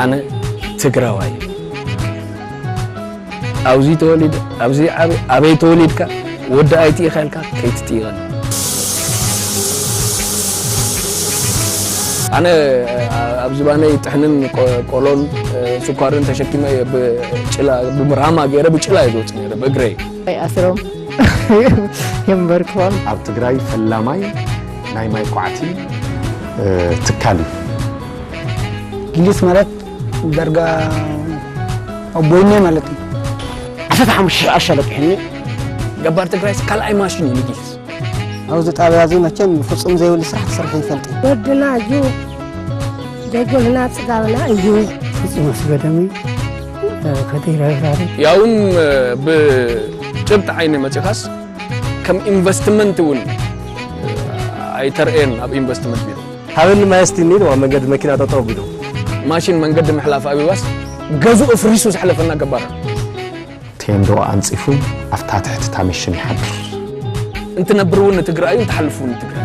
ኣነ ትግራዋይ እየ ኣብዚ ተወሊደ ኣብዚ ዓበ ኣበይ ተወሊድካ ወዲ ኣይት ኢኻ ኢልካ ከይትጥይቐኒ ኣነ ኣብ ዝባነይ ጥሕንን ቆሎን ስኳርን ተሸኪመ ብራማ ገይረ ብጭላ እየ ዝወፅ ነረ ብእግረይ ኣስሮም የምበርክዎም ኣብ ትግራይ ፈላማይ ናይ ማይ ኳዕቲ ትካል እዩ። ጊሊስ ማለት ዳርጋ ኣቦይነ ማለት እዩ። ዓሰርተ ሓሙሽተ ሽሕ ኣሻ ለቂሑኒ ገባር ትግራይስ ካልኣይ ማሽን እዩ ንጊሊስ። ኣብዚ ጣብያ እዚ መቸም ፍፁም ዘይብሉ ስራሕ ትሰርሑ ይፈልጥ እዩ። ወድና እዩ ደጎልና ፅጋብና እዩ። ፍፁም ኣስገደሚ ከደይረዛሪ ያውን ብጭብጢ ዓይኒ መፂኻስ ከም ኢንቨስትመንት እውን ኣይተርእየን ኣብ ኢንቨስትመንት ቢሮ ሃበኒ ማይ እስቲ እኒኢልዋ መንገዲ መኪና ጠጠው ቢሉ ማሽን መንገዲ ምሕላፍ ኣቢባስ ገዙ እፍሪሱ ዝሕለፈና ገባር ቴንዶ ኣንፂፉ ኣብታ ትሕቲ ታሚሽን ይሓድር እንትነብር እውን ንትግራይ እዩ እንትሓልፍ እውን ንትግራይ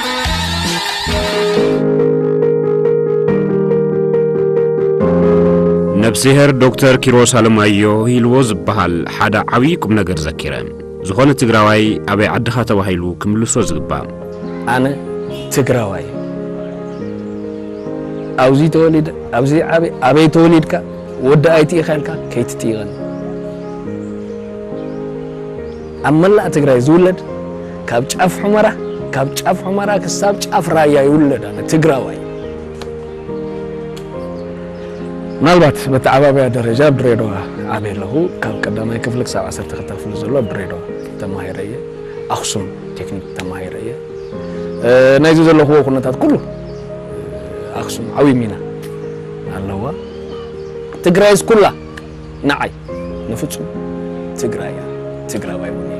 ነብስሄር ዶክተር ኪሮስ ኣለማዮ ሂልዎ ዝበሃል ሓደ ዓብዪ ቁም ነገር ዘኪረ ዝኾነ ትግራዋይ ኣበይ ዓድኻ ተባሂሉ ክምልሶ ዝግባእ ኣነ ትግራዋይ ኣብዚ ተወሊደ ኣብዚ ዓበ ኣበይ ተወሊድካ ወዲ ኣይትኢኻ ኢልካ ከይትጥይቐኒ ኣብ መላእ ትግራይ ዝውለድ ካብ ጫፍ ሑመራ ካብ ጫፍ ሑመራ ክሳብ ጫፍ ራያ ይውለድ ኣነ ትግራዋይ ምናልባት መተዓባበያ ደረጃ ኣብ ድሬዳዋ ዓብየ ኣለኹ ካብ ቀዳማይ ክፍሊ ክሳብ ዓሰርተ ክልተ ክፍሊ ዘሎ ኣብ ድሬዳዋ ተማሂረ እየ ኣክሱም ቴክኒክ ተማሂረ እየ ናይዚ ዘለኹዎ ኩነታት ኩሉ ኣክሱም ዓብዪ ሚና ኣለዋ ትግራይስ ኩላ ንዓይ ንፍጹም ትግራይ እያ ትግራዋይ እውን እየ።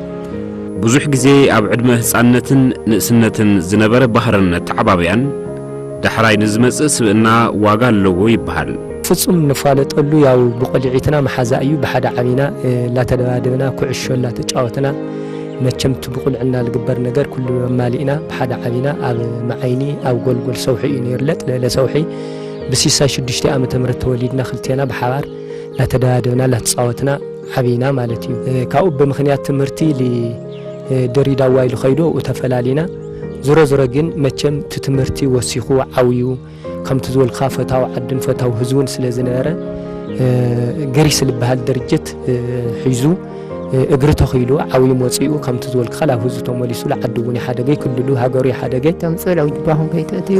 ብዙሕ ግዜ ኣብ ዕድመ ህጻንነትን ንእስነትን ዝነበረ ባህርን ኣተዓባብያን ዳሕራይ ንዝመጽእ ስብእና ዋጋ ኣለዎ ይበሃል። ፍጹም ንፋለጠሉ ያው ብቆሊዒትና መሓዛ እዩ ብሓደ ዓቢና ላተደባደብና ኩዕሾ ላተጫወትና መቸም እቲ ብቁልዕና ልግበር ነገር ኩሉ ኣማሊእና ብሓደ ዓቢና ኣብ መዓይኒ ኣብ ጎልጎል ሰውሒ እዩ ነይሩ ለጥ ለለ ሰውሒ ብሲሳይ ሽዱሽተ ዓመተ ምህረት ተወሊድና ክልቴና ብሓባር ላተደባደብና ላተጻወትና ዓቢና ማለት እዩ ካብኡ ብምክንያት ትምህርቲ ድሪዳዋ ኢሉ ከይዱ ኣብኡ ተፈላሊና ዝሮ ዝሮ ግን መቸም እቲ ትምህርቲ ወሲኹ ዓውዩ ከምቲ ዝበልካ ፈታዊ ዓድን ፈታዊ ህዝቡን ስለ ዝነበረ ግሪስ ዝበሃል ድርጅት ሒዙ እግሪ ተኺሉ ዓብዩ መፂኡ ከምቲ ዝበልክኻ ናብ ህዝቢ ተመሊሱ ዓዲ እውን ይሓደገ ክልሉ ሃገሩ ይሓደገ ተምፅእ ለውጅባኹም ከይትእትዩ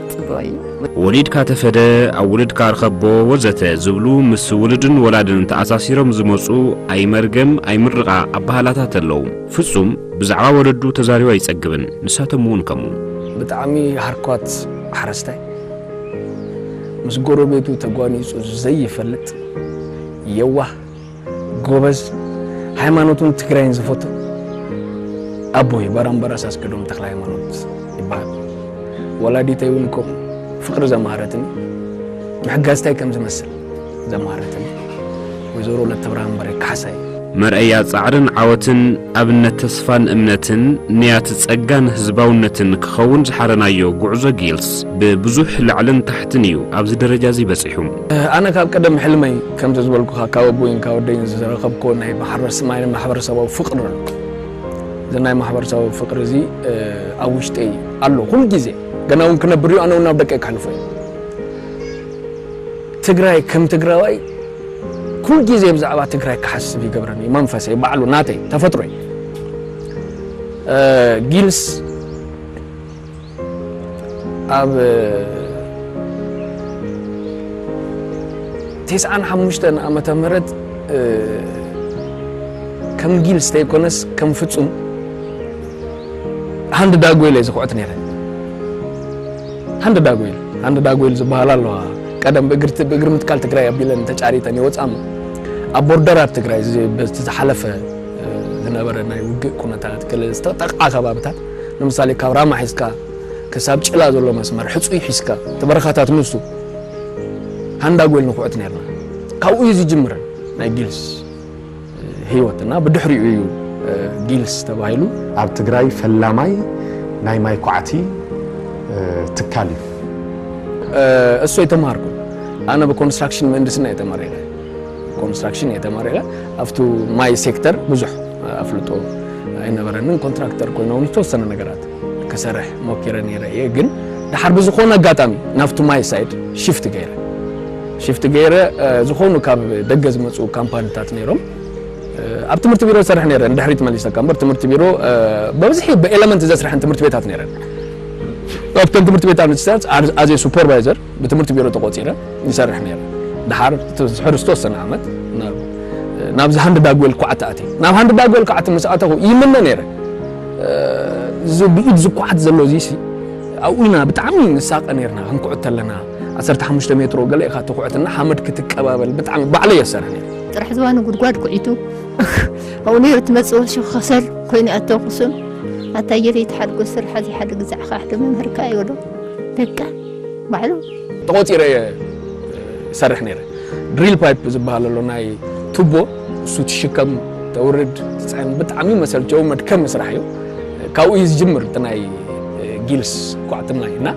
ወሊድካ ተፈደ ኣብ ውልድካ ኣርኸቦ ወዘተ ዝብሉ ምስ ውልድን ወላድን ተኣሳሲሮም ዝመጹ ኣይመርገም ኣይምርቓ ኣባህላታት ኣለዉ። ፍጹም ብዛዕባ ወለዱ ተዛሪቡ ኣይጸግብን ንሳቶም እውን ከምኡ። ብጣዕሚ ሃርኳት ሓረስታይ ምስ ጎረቤቱ ተጓኒጹ ዘይፈልጥ የዋህ ጎበዝ ሃይማኖቱን ትግራይን ዝፈቱ ኣቦ እዩ ባራምበራስ ኣስገዶም ተክለ ሃይማኖት ይበሃል ወላዲተይ እውን እኮ ፍቅሪ ዘማሃረትኒ ምሕጋዝ እንታይ ከም ዝመስል ዘማሃረትኒ ወይዘሮ ለተብርሃን በሬ ካሕሳይ መርኣያ ጻዕርን ዓወትን ኣብነት ተስፋን እምነትን ንያት ጸጋን ህዝባውነትን ክኸውን ዝሓረናዮ ጉዕዞ ጊልስ ብብዙሕ ላዕልን ታሕትን እዩ ኣብዚ ደረጃ እዚ በጺሑ ኣነ ካብ ቀደም ሕልመይ ከምቲ ዝበልኩኻ ካብ ኣቦይን ካብ ኣደይን ዝረኸብኩዎ ናይ ማሕበረሰብ ናይ ማሕበረሰባዊ ፍቕሪ ኣሎ። እዚ ናይ ማሕበረሰባዊ ፍቕሪ እዚ ኣብ ውሽጠይ ኣሎ ኩሉ ግዜ ገና እውን ክነብር እዩ ኣነ እውን ናብ ደቀይ ከሕልፎ እዩ። ትግራይ ከም ትግራዋይ ኩሉ ግዜ ብዛዕባ ትግራይ ክሓስብ ይገብረኒ እዩ መንፈሰይ ባዕሉ ናተይ ተፈጥሮይ ጊልስ ኣብ ቴስዓን ሓሙሽተን ዓመተ ምህረት ከም ጊልስ ተይኮነስ ከም ፍጹም ሃንድ ዳጎይል እየ ዝኩዕት ነይረ ሃንድ ዳጎይል ሃንድ ዳጎይል ዝበሃል ኣለዋ ቀደም ብእግርቲ ብእግሪ ምትካል ትግራይ ኣቢለን ተጫሪተን ይወፅኣም ኣብ ቦርደራት ትግራይ በቲ ዝሓለፈ ዝነበረ ናይ ውግእ ኩነታት ገለ ዝተጠቕዓ ከባብታት ንምሳሌ ካብ ራማ ሒዝካ ክሳብ ጭላ ዘሎ መስመር ሕጹይ ሒዝካ እቲ በረኻታት ንሱ ሃንዳጎል ንኹዕት ኔርና ካብኡ እዩ ዝጅምር ናይ ጊልስ ህይወት እና ብድሕሪኡ እዩ ጊልስ ተባሂሉ ኣብ ትግራይ ፈላማይ ናይ ማይ ኳዕቲ ትካል እዩ። እሱ ኣይተማሃርኩን ኣነ ብኮንስትራክሽን ምህንድስና እየ ተመሪቀ። ኮንስትራክሽን እየ ተመሪቐ ኣብቱ ማይ ሴክተር ብዙሕ ኣፍልጦ ኣይነበረንን ኮንትራክተር ኮይነ ውን ዝተወሰነ ነገራት ክሰርሕ ሞኪረ ነይረ እየ ግን ድሓር ብዝኾነ ኣጋጣሚ ናብቱ ማይ ሳይድ ሽፍት ገይረ ሽፍት ገይረ ዝኾኑ ካብ ደገ ዝመፁ ካምፓኒታት ነይሮም ኣብ ትምህርቲ ቢሮ ዝሰርሕ ነይረ ንድሕሪት መሊሰካ እምበር ትምህርቲ ቢሮ በብዝሒ ብኤለመንት ዘስርሐን ትምህርቲ ቤታት ነይረን ኣብተን ትምህርቲ ቤታት ኣዜ ሱፐርቫይዘር ብትምህርቲ ቢሮ ተቖጺረ ይሰርሕ ነይረ። ደሓር ድሕሪ ዝተወሰነ ዓመት ናብዚ ሃንድ ዳግዌል ኳዕቲ ኣትየ። ናብ ሃንድ ዳግዌል ኳዕቲ ምስ ኣተኹ ይምነ ነይረ እዚ ብኢድ ዝኳዓት ዘሎ እዚሲ ኣብኡ ኢና ብጣዕሚ ንሳቐ ነይርና ክንኩዕት ተለና ዓሰርተ ሓሙሽተ ሜትሮ ገለ ኢኻ ትኹዕትና ሓመድ ክትቀባበል ብጣዕሚ ባዕለይ የሰርሕ ነይረ ጥራሕ ዝባኑ ጉድጓድ ኩዒቱ ኣብኡ ነይሩ ትመፅእ ወሹ ከሰል ኮይኑ ኣተኩሱን ኣታ የለይ ተሓድጎ ስርሓ እዚ ሓደ ግዛዕኻ ሓደ መምህርካ ይብሎ በቃ ባዕሉ። ተቖጺረ እየ ዝሰርሕ ነይረ። ድሪል ፓይፕ ዝበሃል ኣሎ ናይ ቱቦ፣ እሱ ትሽከም ተውርድ ትጽዕን ብጣዕሚ መሰልቸዊ መድከሚ ስራሕ እዩ። ካብኡ እዩ ዝጅምር እቲ ናይ ጊልስ ኳዕቲ ማይ እና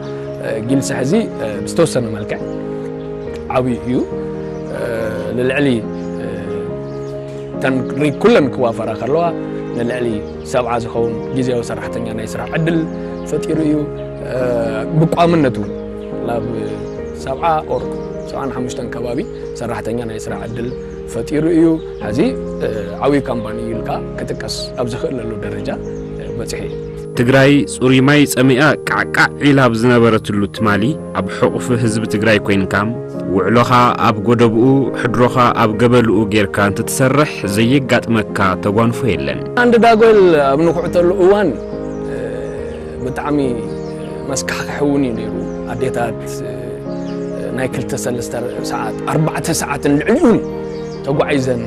ጊልስ ሕዚ ብዝተወሰነ መልክዕ ዓብዩ እዩ ልልዕሊ ተን ኩለን ክዋፈራ ከለዋ ንልዕሊ ሰብዓ ዝኸውን ግዝያዊ ሰራሕተኛ ናይ ስራሕ ዕድል ፈጢሩ እዩ። ብቋምነት እውን ናብ ሰብዓ ኦር ሰብዓን ሓሙሽተን ከባቢ ሰራሕተኛ ናይ ስራሕ ዕድል ፈጢሩ እዩ። ሕዚ ዓብዪ ካምፓኒ እዩ ኢልካ ክጥቀስ ኣብ ዝኽእለሉ ደረጃ በፂሑ እዩ። ትግራይ ፅሩይ ማይ ፀሚኣ ቃዕቃዕ ዒላ ኣብ ዝነበረትሉ ትማሊ ኣብ ሕቑፊ ህዝቢ ትግራይ ኮይንካ ውዕሎኻ ኣብ ጎደብኡ ሕድሮኻ ኣብ ገበልኡ ጌርካ እንትትሰርሕ ዘየጋጥመካ ተጓንፎ የለን። ዓንዲ ዳጎል ኣብ ንኩዕተሉ እዋን ብጣዕሚ መስካሕክሒ እውን እዩ ነይሩ። ኣዴታት ናይ ክልተ ሰለስተ ሰዓት ኣርባዕተ ሰዓትን ልዕሊኡን ተጓዒዘን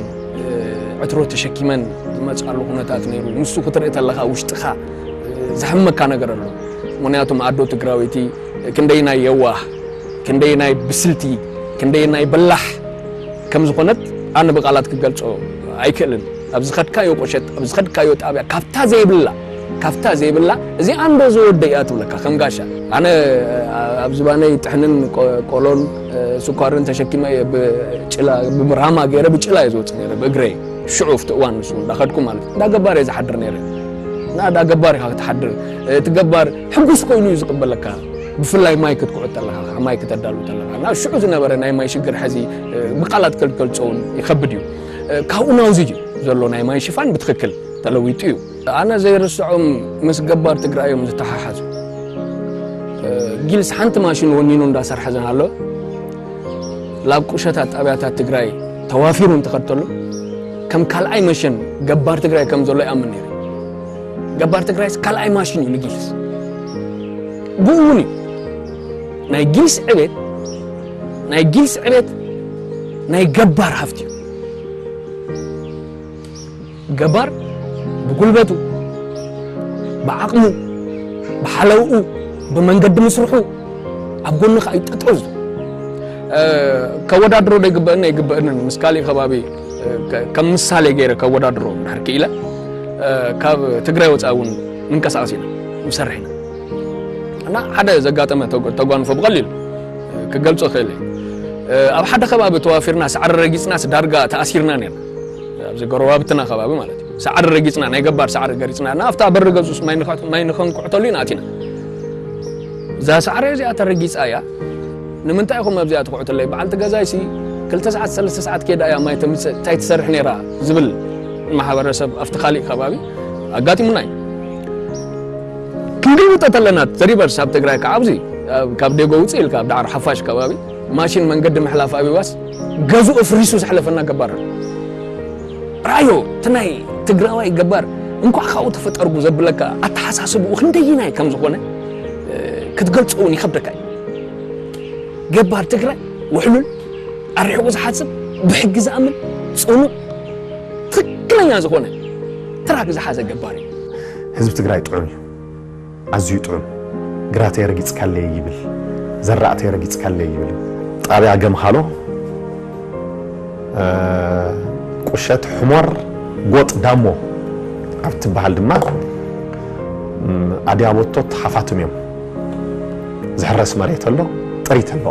ዕትሮ ተሸኪመን ዝመፅኣሉ ኩነታት ነይሩ። ንሱ ክትርኢ ተለኻ ውሽጥኻ ዘሕመካ ነገር ኣሎ። ምክንያቱም ኣዶ ትግራወይቲ ክንደየናይ የዋህ፣ ክንደየናይ ብስልቲ፣ ክንደየናይ በላሕ ከም ዝኾነት ኣነ ብቓላት ክገልጾ ኣይክእልን። ኣብ ዝኸድካዮ ቁሸት፣ ኣብ ዝኸድካዮ ጣብያ ካብታ ዘይብላ፣ ካብታ ዘይብላ እዚኣ እንዶ ዝወደይ እያ ትብለካ ከም ጋሻ። ኣነ ኣብ ዝባነይ ጥሕንን ቆሎን ስኳርን ተሸኪመ እየ ብጭላ፣ ብራማ ገይረ ብጭላ እየ ዝወጽእ ነይረ ብእግረይ። ሽዑ ኣብቲ እዋን ንሱ እንዳኸድኩ ማለት እዩ። እንዳ ገባር እየ ዝሓድር ነይረ። እንዳ ገባር ኢኻ ክትሓድር፣ እቲ ገባር፣ ሕጉስ ኮይኑ እዩ ዝቕበለካ ብፍላይ ማይ ክትኩዑ ተለኻ ማይ ክተዳሉ ተለኻ ናብ ሽዑ ዝነበረ ናይ ማይ ሽግር ሕዚ ብቃላት ከልከልፀውን ይኸብድ እዩ ካብኡ ናውዚ እዩ ዘሎ ናይ ማይ ሽፋን ብትክክል ተለዊጡ እዩ ኣነ ዘይርስዖም ምስ ገባር ትግራይ እዮም ዝተሓሓዙ ጊልስ ሓንቲ ማሽን ወኒኑ እንዳሰርሐ ዝናሎ ላብ ቁሸታት ጣብያታት ትግራይ ተዋፊሩ እንተኸድተሉ ከም ካልኣይ መሽን ገባር ትግራይ ከም ዘሎ ይኣምን ነይሩ ገባር ትግራይስ ካልኣይ ማሽን እዩ ንጊስ ብኡ እውን እዩ ናይ ጊስ ዕቤት ናይ ጊስ ዕቤት ናይ ገባር ሃፍቲ እዩ ገባር ብጉልበቱ ብዓቕሙ ብሓለውኡ ብመንገዲ ምስርሑ ኣብ ጎንኻ እዩ ጠጠው ዝብል ከወዳድሮ ዶ ይግበእኒ ኣይግበእንን ምስ ካሊእ ከባቢ ከም ምሳሌ ገይረ ከወዳድሮ ድሕር ክኢለ ካብ ትግራይ ወፃኢ እውን ምንቀሳቀስ ኢና ንሰርሕ ኢና እና ሓደ ዘጋጠመ ተጓንፎ ብቐሊሉ ክገልፆ ክእል ኣብ ሓደ ከባቢ ተዋፊርና ሳዕሪ ረጊፅናስ ዳርጋ ተኣሲርና ነርና ኣብዚ ጎረባብትና ከባቢ ማለት እዩ ሳዕሪ ረጊፅና ናይ ገባር ሳዕሪ ገሪፅና እና ኣብታ በሪ ገፁስ ማይ ንኸንኩዕተሉ ኢና ኣቲና እዛ ሳዕሪ እዚኣ ተረጊፃ እያ ንምንታይ ኢኹም ኣብዚኣ ትኹዕቱለይ በዓልቲ ገዛይሲ ክልተ ሰዓት ሰለስተ ሰዓት ኬዳ እያ ማይ ተምጽእ እንታይ ትሰርሕ ነይራ ዝብል ማሕበረሰብ ኣብቲ ካሊእ ከባቢ ኣጋጢሙና እዩ ክንግልብጦ ተለና ተሪቨርስ ኣብ ትግራይ ከዓ ኣብዚ ካብ ዴጎ ውፅእ ኢልካ ኣብ ዳዕሮ ሓፋሽ ከባቢ ማሽን መንገዲ ምሕላፍ ኣቢዋስ ገዙ እፍሪሱ ዝሕለፈና ገባር ራዮ እቲ ናይ ትግራዋይ ገባር እንኳዕ ካብኡ ተፈጠርጉ ዘብለካ ኣተሓሳስብኡ ክንደይናይ ከም ዝኾነ ክትገልፆ እውን ይኸብደካ እዩ። ገባር ትግራይ ውሕሉል፣ ኣርሒቑ ዝሓስብ፣ ብሕጊ ዝኣምን፣ ፅኑዕ፣ ትኽክለኛ ዝኾነ ትራክ ዝሓዘ ገባር እዩ። ህዝቢ ትግራይ ጥዑም እዩ። ኣዝዩ ጥዑም። ግራተይ ረጊፅካለይ ይብል፣ ዘራእተይ ረጊፅካለይ ይብል። ጣብያ ገምሃሎ ቁሸት ሕሞር ጎጥ ዳሞ ኣብ እትበሃል ድማ ኣድያቦቶት ሓፋትም እዮም። ዝሕረስ መሬት ኣሎ፣ ጥሪት ኣሎ።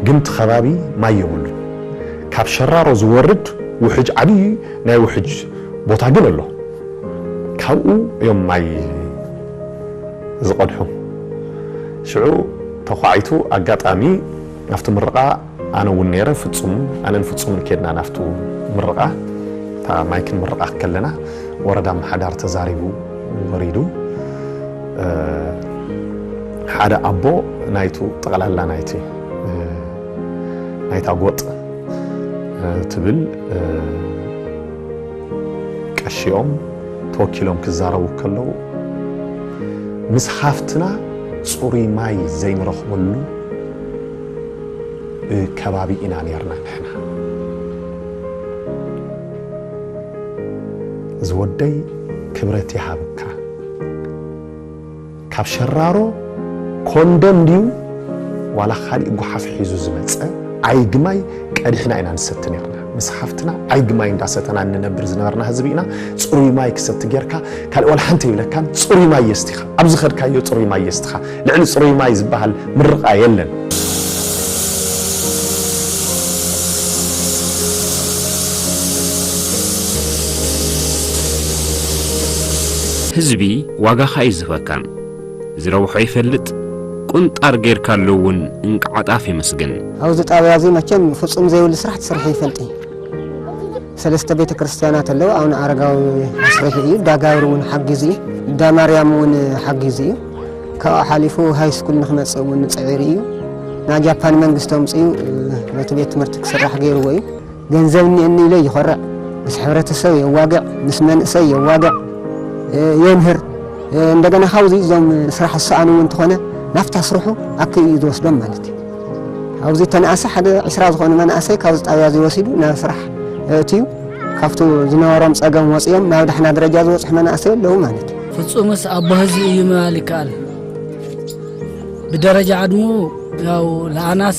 ግን እቲ ከባቢ ማይ የብሉን። ካብ ሸራሮ ዝወርድ ውሕጅ ዓብዪ ናይ ውሕጅ ቦታ ግን ኣሎ። ካብኡ እዮም ማይ ዝቐድሑ። ሽዑ ተዃዒቱ ኣጋጣሚ ናብቲ ምርቓ ኣነ እውን ነይረ ፍፁም ኣነን ፍፁምን ከድና ናብቱ ምርቓ እታ ማይ ክንምርቓ ከለና ወረዳ ኣመሓዳሪ ተዛሪቡ ወሪዱ ሓደ ኣቦ ናይቱ ጠቕላላ ናይቲ ናይታ ጎጥ ትብል ቀሺኦም ተወኪሎም ክዛረቡ ከለው ምስ ሃፍትና ጽሩይ ማይ ዘይንረኽበሉ ከባቢ ኢና ኔርና ንሕና። ዝወደይ ክብረት ይሃብካ ካብ ሸራሮ ኮንደም ድዩ ዋላ ካሊእ ጉሓፍ ሒዙ ዝመጸ ኣይግማይ ቀዲሕና ኢና ንሰቲ ኔርና። ምስ ሓፍትና ዓይጊ ማይ እንዳሰተና እንነብር ዝነበርና ህዝቢ ኢና። ጽሩይ ማይ ክሰቲ ጌርካ ካልእ ዋላ ሓንቲ ኣይብለካን። ጽሩይ ማይ የስቲኻ ኣብ ዝኸድካዮ ጽሩይ ማይ የስቲኻ። ልዕሊ ጽሩይ ማይ ዝበሃል ምርቓ የለን። ህዝቢ ዋጋኻ እዩ ዝህበካ። ዝረብሖ ይፈልጥ ቁንጣር ጌርካሉ ውን እንቃዓ ጣፍ የመስግን። ኣብዚ ጣብያ እዚ መቸም ፍፁም ዘይብሉ ስራሕ ትስርሒ ይፈልጥ እዪ ሰለስተ ቤተ ክርስትያናት ኣለዉ ኣውነ ኣረጋዊ ኣስሪሑ እዩ ዳጋብሪ እውን ሓጊዙ እዩ እንዳ ማርያም እውን ሓጊዙ እዩ ካብኡ ሓሊፉ ሃይ ስኩል ንክመፅእ እውን ፅዒሩ እዩ ናብ ጃፓን መንግስቲ ኣምፅኡ ነቲ ቤት ትምህርቲ ክስራሕ ገይርዎ እዩ ገንዘብ እኒኤኒ ኢለ ይኾርዕ፣ ምስ ሕብረተሰብ የዋግዕ፣ ምስ መንእሰይ የዋግዕ፣ የምህር፣ እንደገና ካብዚ እዞም ስራሕ ዝሰኣኑ እውን እንተኾነ ናብታ ስርሑ ኣኪቡ እዩ ዝወስዶም ማለት እዩ። ኣብዚ ተነኣሰ ሓደ ዕስራ ዝኾኑ መናእሰይ ካብዚ ጣብያ እዚ ወሲዱ ናብ ስራሕ እትዩ ካብቲ ዝነበሮም ፀገም ወፅኦም ናብ ዳሕና ደረጃ ዝበፅሑ መናእሰይ ኣለዉ ማለት እዩ። ፍፁምስ ኣቦ ህዝቢ እዩ ምባል ይከኣል። ብደረጃ ዕድሙ ያው ለኣናስ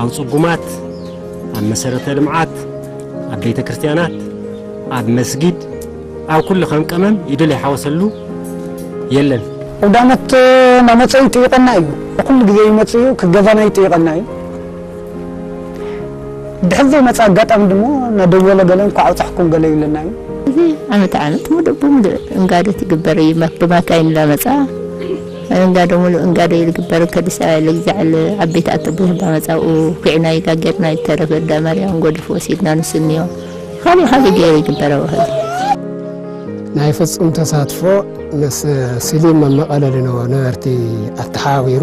ኣብ ጽጉማት፣ ኣብ መሰረተ ልምዓት፣ ኣብ ቤተ ክርስቲያናት፣ ኣብ መስጊድ፣ ኣብ ኩሉ ከም ቀመም ኢዱ ለይሓወሰሉ የለን። ኣውዳመት ናመፀ ይጥይቀና እዩ ኩሉ ግዜ ይመፅ እዩ ክገዛና ይጥይቀና እዩ ድሕር ዘይመፀ ኣጋጣሚ ድሞ ናደወለ ገለ እንኳዕ ኣብፀሕኩም ገለ ይብለና እዩ ዓመት ዓመት ሙሉእ ብሙሉእ እንጋደት ይግበር እዩ ብማካይን እናመፃ እንጋዶ ሙሉእ እንጋዶ እዩ ዝግበር ከዲስ ኣያ ልግዛዕል ዓበይቲ ኣተቦ ህባ መጻብኡ ኩዒና ይጋ ጌርና ይተረፍ እዳ ማርያም ጎድፍ ወሲድና ንሱ እንዮ ኻሊእ ኻሊእ ገይሩ ይግበር ኣብ ኸዚ ናይ ፍጹም ተሳትፎ ምስ ስሊም መመቐለሊ ነበርቲ ኣተሓባቢሩ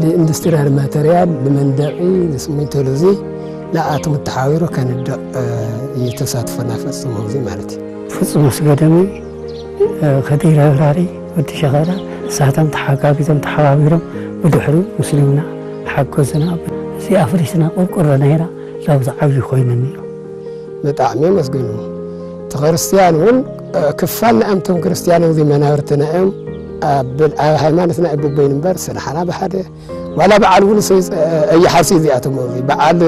ንኢንዱስትሪያል ማተርያል ንመንደቂ ንስሚንቶ ሉዚ ንኣቶም ተሓቢሩ ከንድቕ እዩ ተሳትፎና ፈፅሞ እዚ ማለት እዩ ፍፁም ኣስገደሚ ከዲር ኣብራሪ ወዲ ሸኸረ ንሳቶም ተሓጋጊዞም ተሓባቢሮም ብድሕሪኡ ምስልምና ሓገዙና እዚ ኣፍሪስና ቆርቆሮ ናይራ ላብዚ ዓብዪ ኮይኑኒ ኢሎም። ብጣዕሚ የመስግኑ እቲ ክርስትያን እውን ክፋል ናይ ኣምቶም ክርስትያን እዚ መናብርትና እዮም ኣብ ሃይማኖትና እዩ በበይኑ እምበር ስራሕና ብሓደ ዋላ በዓል እውን ኣይሓርሲ እዚኣቶም በዓል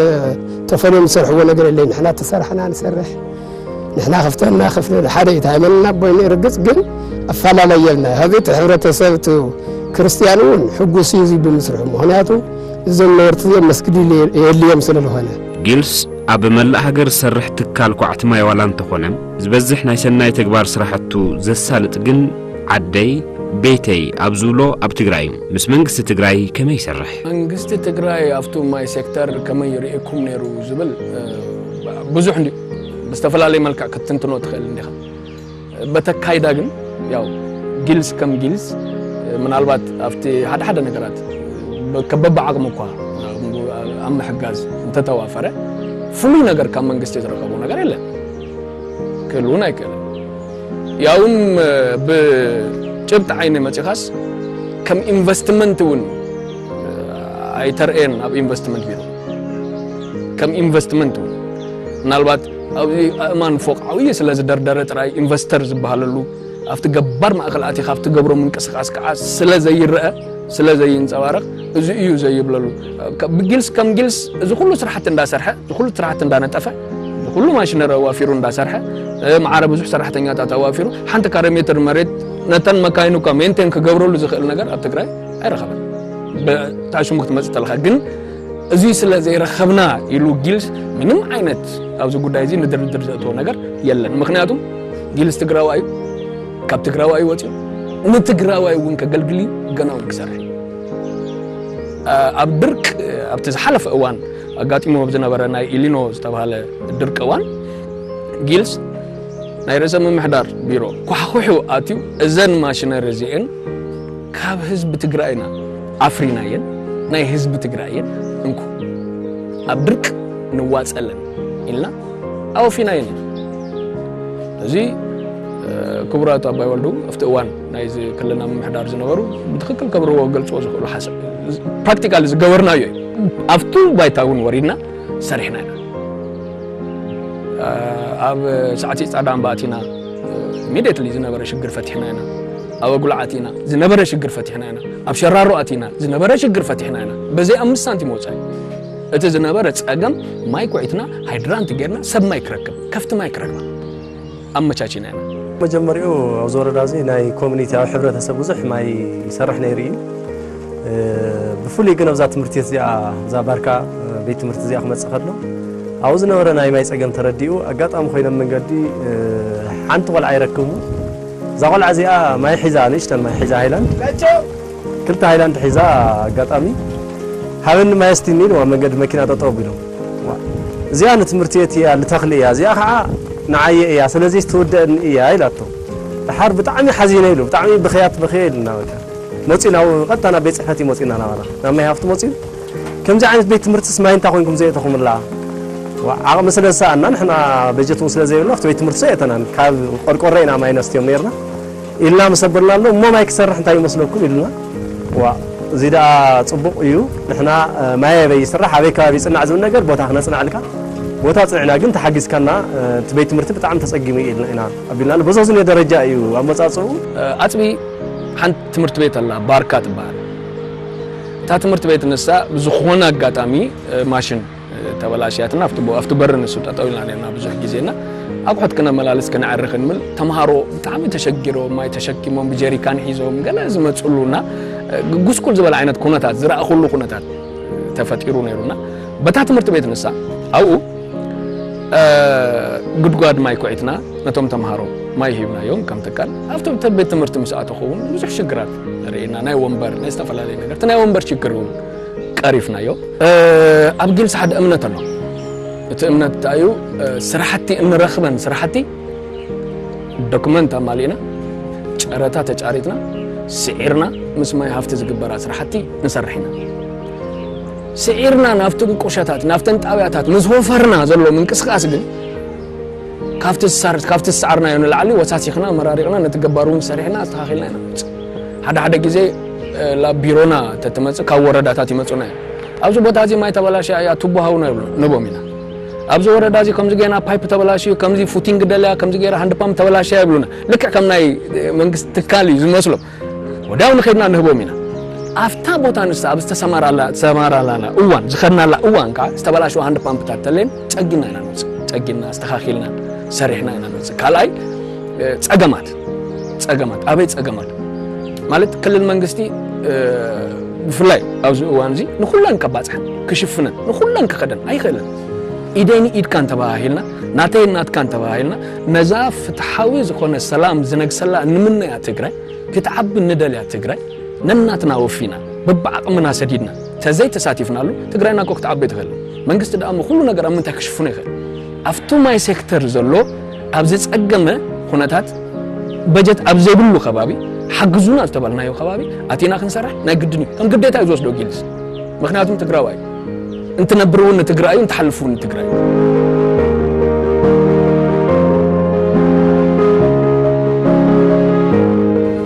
ተፈልዮም ዝሰርሕዎ ነገር የለ ንሕና ተሰራሕና ንሰርሕ ንሕና ክፍተና ክፍለ ሓደ እዩ ሃይመንና ቦይ ርግፅ ግን ኣፈላለይ የልና ሀዚ እቲ ሕብረተሰብ እቲ ክርስቲያን እውን ሕጉስ እዩ ብምስርሑ ምክንያቱ እዞም ነበርቲ እዚኦም መስጊድ የልዮም ስለ ዝኾነ ጊልስ ኣብ መላእ ሃገር ዝሰርሕ ትካል ኳዕቲ ማይ ዋላ እንተኾነ ዝበዝሕ ናይ ሰናይ ተግባር ስራሕቱ ዘሳልጥ ግን ዓደይ ቤተይ ኣብ ዝብሎ ኣብ ትግራይ እዩ ምስ መንግስቲ ትግራይ ከመይ ይሰርሕ? መንግስቲ ትግራይ ኣብቱ ማይ ሴክተር ከመይ ይርእየኩም ነይሩ ዝብል ብዙሕ እንድዩ ብዝተፈላለየ መልክዕ ክትትንትኖ ትኽእል እንዲኻ በተካይዳ ግን ያው ጊልስ ከም ጊልስ ምናልባት ኣብቲ ሓደ ሓደ ነገራት በብዓቕሙ እኳ ኣብ ምሕጋዝ እንተተዋፈረ ፍሉይ ነገር ካብ መንግስቲ ዝረኸቦ ነገር የለን ክህልውን ኣይክእልን። ያውም ብጭብጢ ዓይኒ መጺኻስ ከም ኢንቨስትመንት እውን ኣይተርእየን ኣብ ኢንቨስትመንት ቢሮ ከም ኢንቨስትመንት እውን ምናልባት ኣብዚ ኣእማን ፎቅ ዓብዪ ስለ ዝደርደረ ጥራይ ኢንቨስተር ዝበሃለሉ ኣብቲ ገባር ማእከል ኣቲኻ ኣብቲ ገብሮ ምንቅስቃስ ከዓ ስለ ዘይረአ ስለ ዘይንፀባረቕ እዚ እዩ ዘይብለሉ ብጊልስ ከም ጊልስ እዚ ኩሉ ስራሕቲ እንዳሰርሐ እዚ ኩሉ ስራሕቲ እንዳነጠፈ ብኹሉ ማሽነሪ ኣዋፊሩ እንዳሰርሐ ማዕረ ብዙሕ ሰራሕተኛታት ኣዋፊሩ ሓንቲ ካሬ ሜትር መሬት ነተን መካይኑ እኳ ሜንቴን ክገብረሉ ዝኽእል ነገር ኣብ ትግራይ ኣይረኸበን ብታዕ ሽሙ ክትመፅእ ተለካ ግን እዙይ ስለ ዘይረኸብና ኢሉ ጊልስ ምንም ዓይነት ኣብዚ ጉዳይ እዚ ንድርድር ዘእትዎ ነገር የለን። ምክንያቱም ጊልስ ትግራዋይ እዩ፣ ካብ ትግራዋይ ወፂኡ ንትግራዋይ እውን ከገልግል እዩ፣ ገና እውን ክሰርሕ ኣብ ድርቅ ኣብቲ ዝሓለፈ እዋን ኣጋጢሙ ኣብ ዝነበረ ናይ ኢሊኖ ዝተብሃለ ድርቂ እዋን ጊልስ ናይ ርእሰ ምምሕዳር ቢሮ ኳሕዂሑ ኣትዩ እዘን ማሽነሪ እዚኤን ካብ ህዝቢ ትግራይ ኢና ኣፍሪናየን ናይ ህዝቢ ትግራይ እየን እንኩ ኣብ ድርቂ ንዋፀለን ኢልና ኣወፊናየን እዩ እዚ ክቡራት ኣባይ ወልዱ ኣብቲ እዋን ናይዚ ክልልና ምምሕዳር ዝነበሩ ብትክክል ከብርዎ ገልፅዎ ዝኽእሉ ሓሳብ ፕራክቲካሊ ዝገበርናዮ እዩ ኣብቱ ባይታ እውን ወሪድና ሰሪሕና ኢና ኣብ ሳዕቲ ፃዳ እምባ ኣቲና ኢሚዲየትሊ ዝነበረ ሽግር ፈቲሕና ኢና ኣብ ኣጉላዕ ኣቲና ዝነበረ ሽግር ፈቲሕና ኢና ኣብ ሸራሮ ኣቲና ዝነበረ ሽግር ፈቲሕና ኢና በዘይ ኣምስት ሳንቲም ወፃኢ እቲ ዝነበረ ፀገም ማይ ኩዒትና ሃይድራንት ጌርና ሰብ ማይ ክረክብ ከፍቲ ማይ ክረክባ ኣመቻቺና ኢና። መጀመሪኡ ኣብዚ ወረዳ እዚ ናይ ኮሚኒቲ ኣብ ሕብረተሰብ ብዙሕ ማይ ይሰርሕ ነይሩ እዩ። ብፍሉይ ግን ኣብዛ ትምህርቲ ቤት እዚኣ እዛ ባርካ ቤት ትምህርቲ እዚኣ ክመፅእ ከሎ ኣብኡ ዝነበረ ናይ ማይ ፀገም ተረዲኡ ኣጋጣሚ ኮይኖም መንገዲ ሓንቲ ቆልዓ ይረክቡ እዛ ቆልዓ እዚኣ ማይ ሒዛ ንእሽተን ማይ ሒዛ ሃይላንድ ክልተ ሃይላንድ ሒዛ ኣጋጣሚ ሃበኒ ማይ ኣስትይኒ ኢልዋ መንገዲ መኪና ጠጠው ኣቢሎም ዋእ እዚኣ ንትምህርቲ ቤት እያ ልተኽሊ እያ እዚኣ ከዓ ንዓየ እያ ስለዚስ ትውደእኒ እያ ኢላቶ ደሓር ብጣዕሚ ሓዚነ ኢሉ ብጣዕሚ ብኽያት በኽየ ኢልና በቃ መፅዩ ናብ ቀጥታ ናብ ቤት ፅሕፈት እዩ መፅዩና ናባና ናብ ማይ ሃፍቱ መፅዩ ከምዚ ዓይነት ቤት ትምህርትስ ማይ እንታይ ኮይንኩም ዘየእተኹምላ ዓቕሚ ስለ ዝሰኣና ንሕና በጀት እውን ስለ ዘይብልና ኣብቲ ቤት ትምህርቲ ዘየእተናን ካብ ቆርቆሮ ኢና ማይ ነስትዮም ነይርና ኢልና ምስ ኣበልናሉ እሞ ማይ ክሰርሕ እንታይ ይመስለኩም ኢሉና። ዋእ እዚ ደኣ ጽቡቕ እዩ ንሕና ማይ ኣበይ ይስራሕ ኣበይ ከባቢ ይጽናዕ ዝብል ነገር ቦታ ክነጽንዐልካ ቦታ ኣጽኒዕና ግን ተሓጊዝካና እቲ ቤት ትምህርቲ ብጣዕሚ ተጸጊሙ እዩ ኢልና ኢና ኣቢልናሉ በዞዝኒ ደረጃ እዩ ኣመጻጽኡ። ኣፅቢ ሓንቲ ትምህርቲ ቤት ኣላ ባርካ ትበሃል እታ ትምህርቲ ቤት ንሳ ብዝኾነ ኣጋጣሚ ማሽን ተበላሽያትና ኣብቲ ኣብቲ በሪ ንሱ ጠጠው ኢልና ነርና ብዙሕ ግዜና ኣቑሑት ክነመላልስ ክንዕርኽ እንብል ተምሃሮ ብጣዕሚ ተሸጊሮም ማይ ተሸኪሞም ብጀሪካን ሒዞም ገለ ዝመፅሉና ጉስቁል ዝበለ ዓይነት ኩነታት ዝረኣኹሉ ኩነታት ተፈጢሩ ነይሩና በታ ትምህርቲ ቤት ንሳ ኣብኡ ጉድጓድ ማይ ኩዒትና ነቶም ተምሃሮ ማይ ሂብናዮም ከም ትካል ኣብቲ ቤት ትምህርቲ ምስ ኣተኹ እውን ብዙሕ ሽግራት ርኤና ናይ ወንበር ናይ ዝተፈላለዩ ነገርቲ ናይ ወንበር ሽግር እውን ቀሪፍናዮ ኣብ ግልፂ ሓደ እምነት ኣሎ እቲ እምነት እንታይ እዩ ስራሕቲ እንረኽበን ስራሕቲ ዶክመንት ኣማሊእና ጨረታ ተጫሪትና ስዒርና ምስ ማይ ሃፍቲ ዝግበራ ስራሕቲ ንሰርሕ ኢና ስዒርና ናብቲ ቁሸታት ናብተን ጣብያታት ምስ ወፈርና ዘሎ ምንቅስቃስ ግን ካብቲ ዝሰዓርናዮ ንላዕሊ ወሳሲኽና መራሪቕና ነቲ ገባር እውን ሰሪሕና ኣስተኻኺልና ኢና ሓደ ሓደ ግዜ ላብ ቢሮና ተትመጽእ ካብ ወረዳታት ይመጹና እዮም ኣብዚ ቦታ እዚ ማይ ተበላሽያ እያ ቱቦ ሃውና ንቦም ኢና ኣብዚ ወረዳ እዚ ከምዚ ገና ፓይፕ ተበላሽዩ ከምዚ ፉቲንግ ደልያ ከምዚ ገይራ ሃንድ ፓምፕ ተበላሽያ ይብሉና ልክዕ ከም ናይ መንግስቲ ትካል እዩ ዝመስሎም ወዲያው ንኸድና ንህቦም ኢና ኣብታ ቦታ ንሳ ኣብ ዝተሰማራላና እዋን ዝኸድናላ እዋን ከዓ ዝተበላሸዋ ሃንድ ፓምፕታት ተለን ጸጊና ኢና ንወፅእ ጸጊና ኣስተኻኺልና ሰሪሕና ኢና ንወፅእ ካልኣይ ጸገማት ፀገማት ኣበይ ፀገም ኣሎ ማለት ክልል መንግስቲ ብፍላይ ኣብዚ እዋን እዚ ንኩለን ከባፅሐን ክሽፍነን ንኩለን ክኸደን ኣይኽእልን ኢደይ ንኢድካን ተባሃሂልና ናተይ ናትካን ተባሂልና ነዛ ፍትሓዊ ዝኾነ ሰላም ዝነግሰላ ንምነያ ትግራይ ክትዓቢ ንደልያ ትግራይ ነናትና ወፊና በብዓቕምና ሰዲድና ተዘይ ተሳቲፍናሉ ትግራይና እኮ ክትዓቢ ትኽእል መንግስቲ ደኣ ኩሉ ነገር ኣብ ምንታይ ክሽፍኖ ይኽእል ኣብቲ ማይ ሴክተር ዘሎ ኣብ ዝጸገመ ኩነታት በጀት ኣብ ዘይብሉ ከባቢ ሓግዙና ዝተባልናዮ ከባቢ ኣቲና ክንሰርሕ ናይ ግድን እዩ ከም ግዴታ እዩ ዝወስዶ ጊልስ ምክንያቱም ትግራዋይ እንትነብር እውን ንትግራይ እዩ እንትሓልፍ እውን ንትግራይ እዩ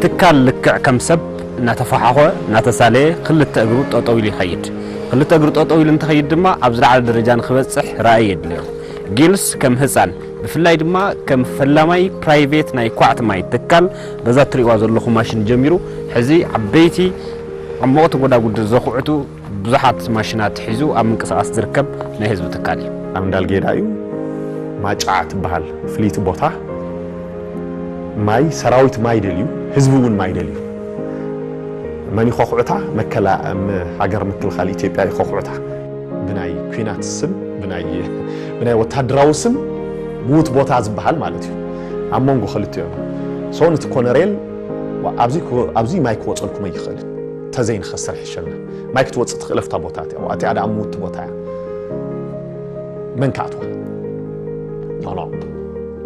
ትካል ልክዕ ከም ሰብ እናተፈሓኾ እናተሳለየ ክልተ እግሩ ጠጠው ኢሉ ይኸይድ። ክልተ እግሩ ጠጠው ኢሉ እንትኸይድ ድማ ኣብ ዝለዓለ ደረጃ ንክበፅሕ ራእይ የድልዮ። ጊልስ ከም ህጻን ብፍላይ ድማ ከም ፈላማይ ፕራይቬት ናይ ኳዕቲ ማይ ትካል በዛ ትሪእዋ ዘለኹም ማሽን ጀሚሩ ሕዚ ዓበይቲ ዓሞቕቲ ጎዳጉዲ ዘኹዕቱ ብዙሓት ማሽናት ሒዙ ኣብ ምንቅስቓስ ዝርከብ ናይ ህዝቢ ትካል እዩ። ኣብ እንዳልጌዳ እዩ ማጫ ትበሃል ፍልይቲ ቦታ ማይ ሰራዊት ማይ ደልዩ ህዝቢ እውን ማይ ደልዩ መን ይኾኹዕታ መከላ ሃገር ምክልኻል ኢትዮጵያ ይኾኹዕታ። ብናይ ኩናት ስም ብናይ ወታደራዊ ስም ምዉት ቦታ ዝበሃል ማለት እዩ ኣብ መንጎ ክልቲኦም ሶን እቲ ኮነሬል ኣብዚ ማይ ክወፀልኩም ኣይኽእልን ተዘይንኸስር ሕሸና ማይ ክትወፅእ ትኽእል ኣብታ ቦታ እቲኣ እቲኣ ደኣ ምውቲ ቦታ እያ መን ክኣትዋ ኖኖ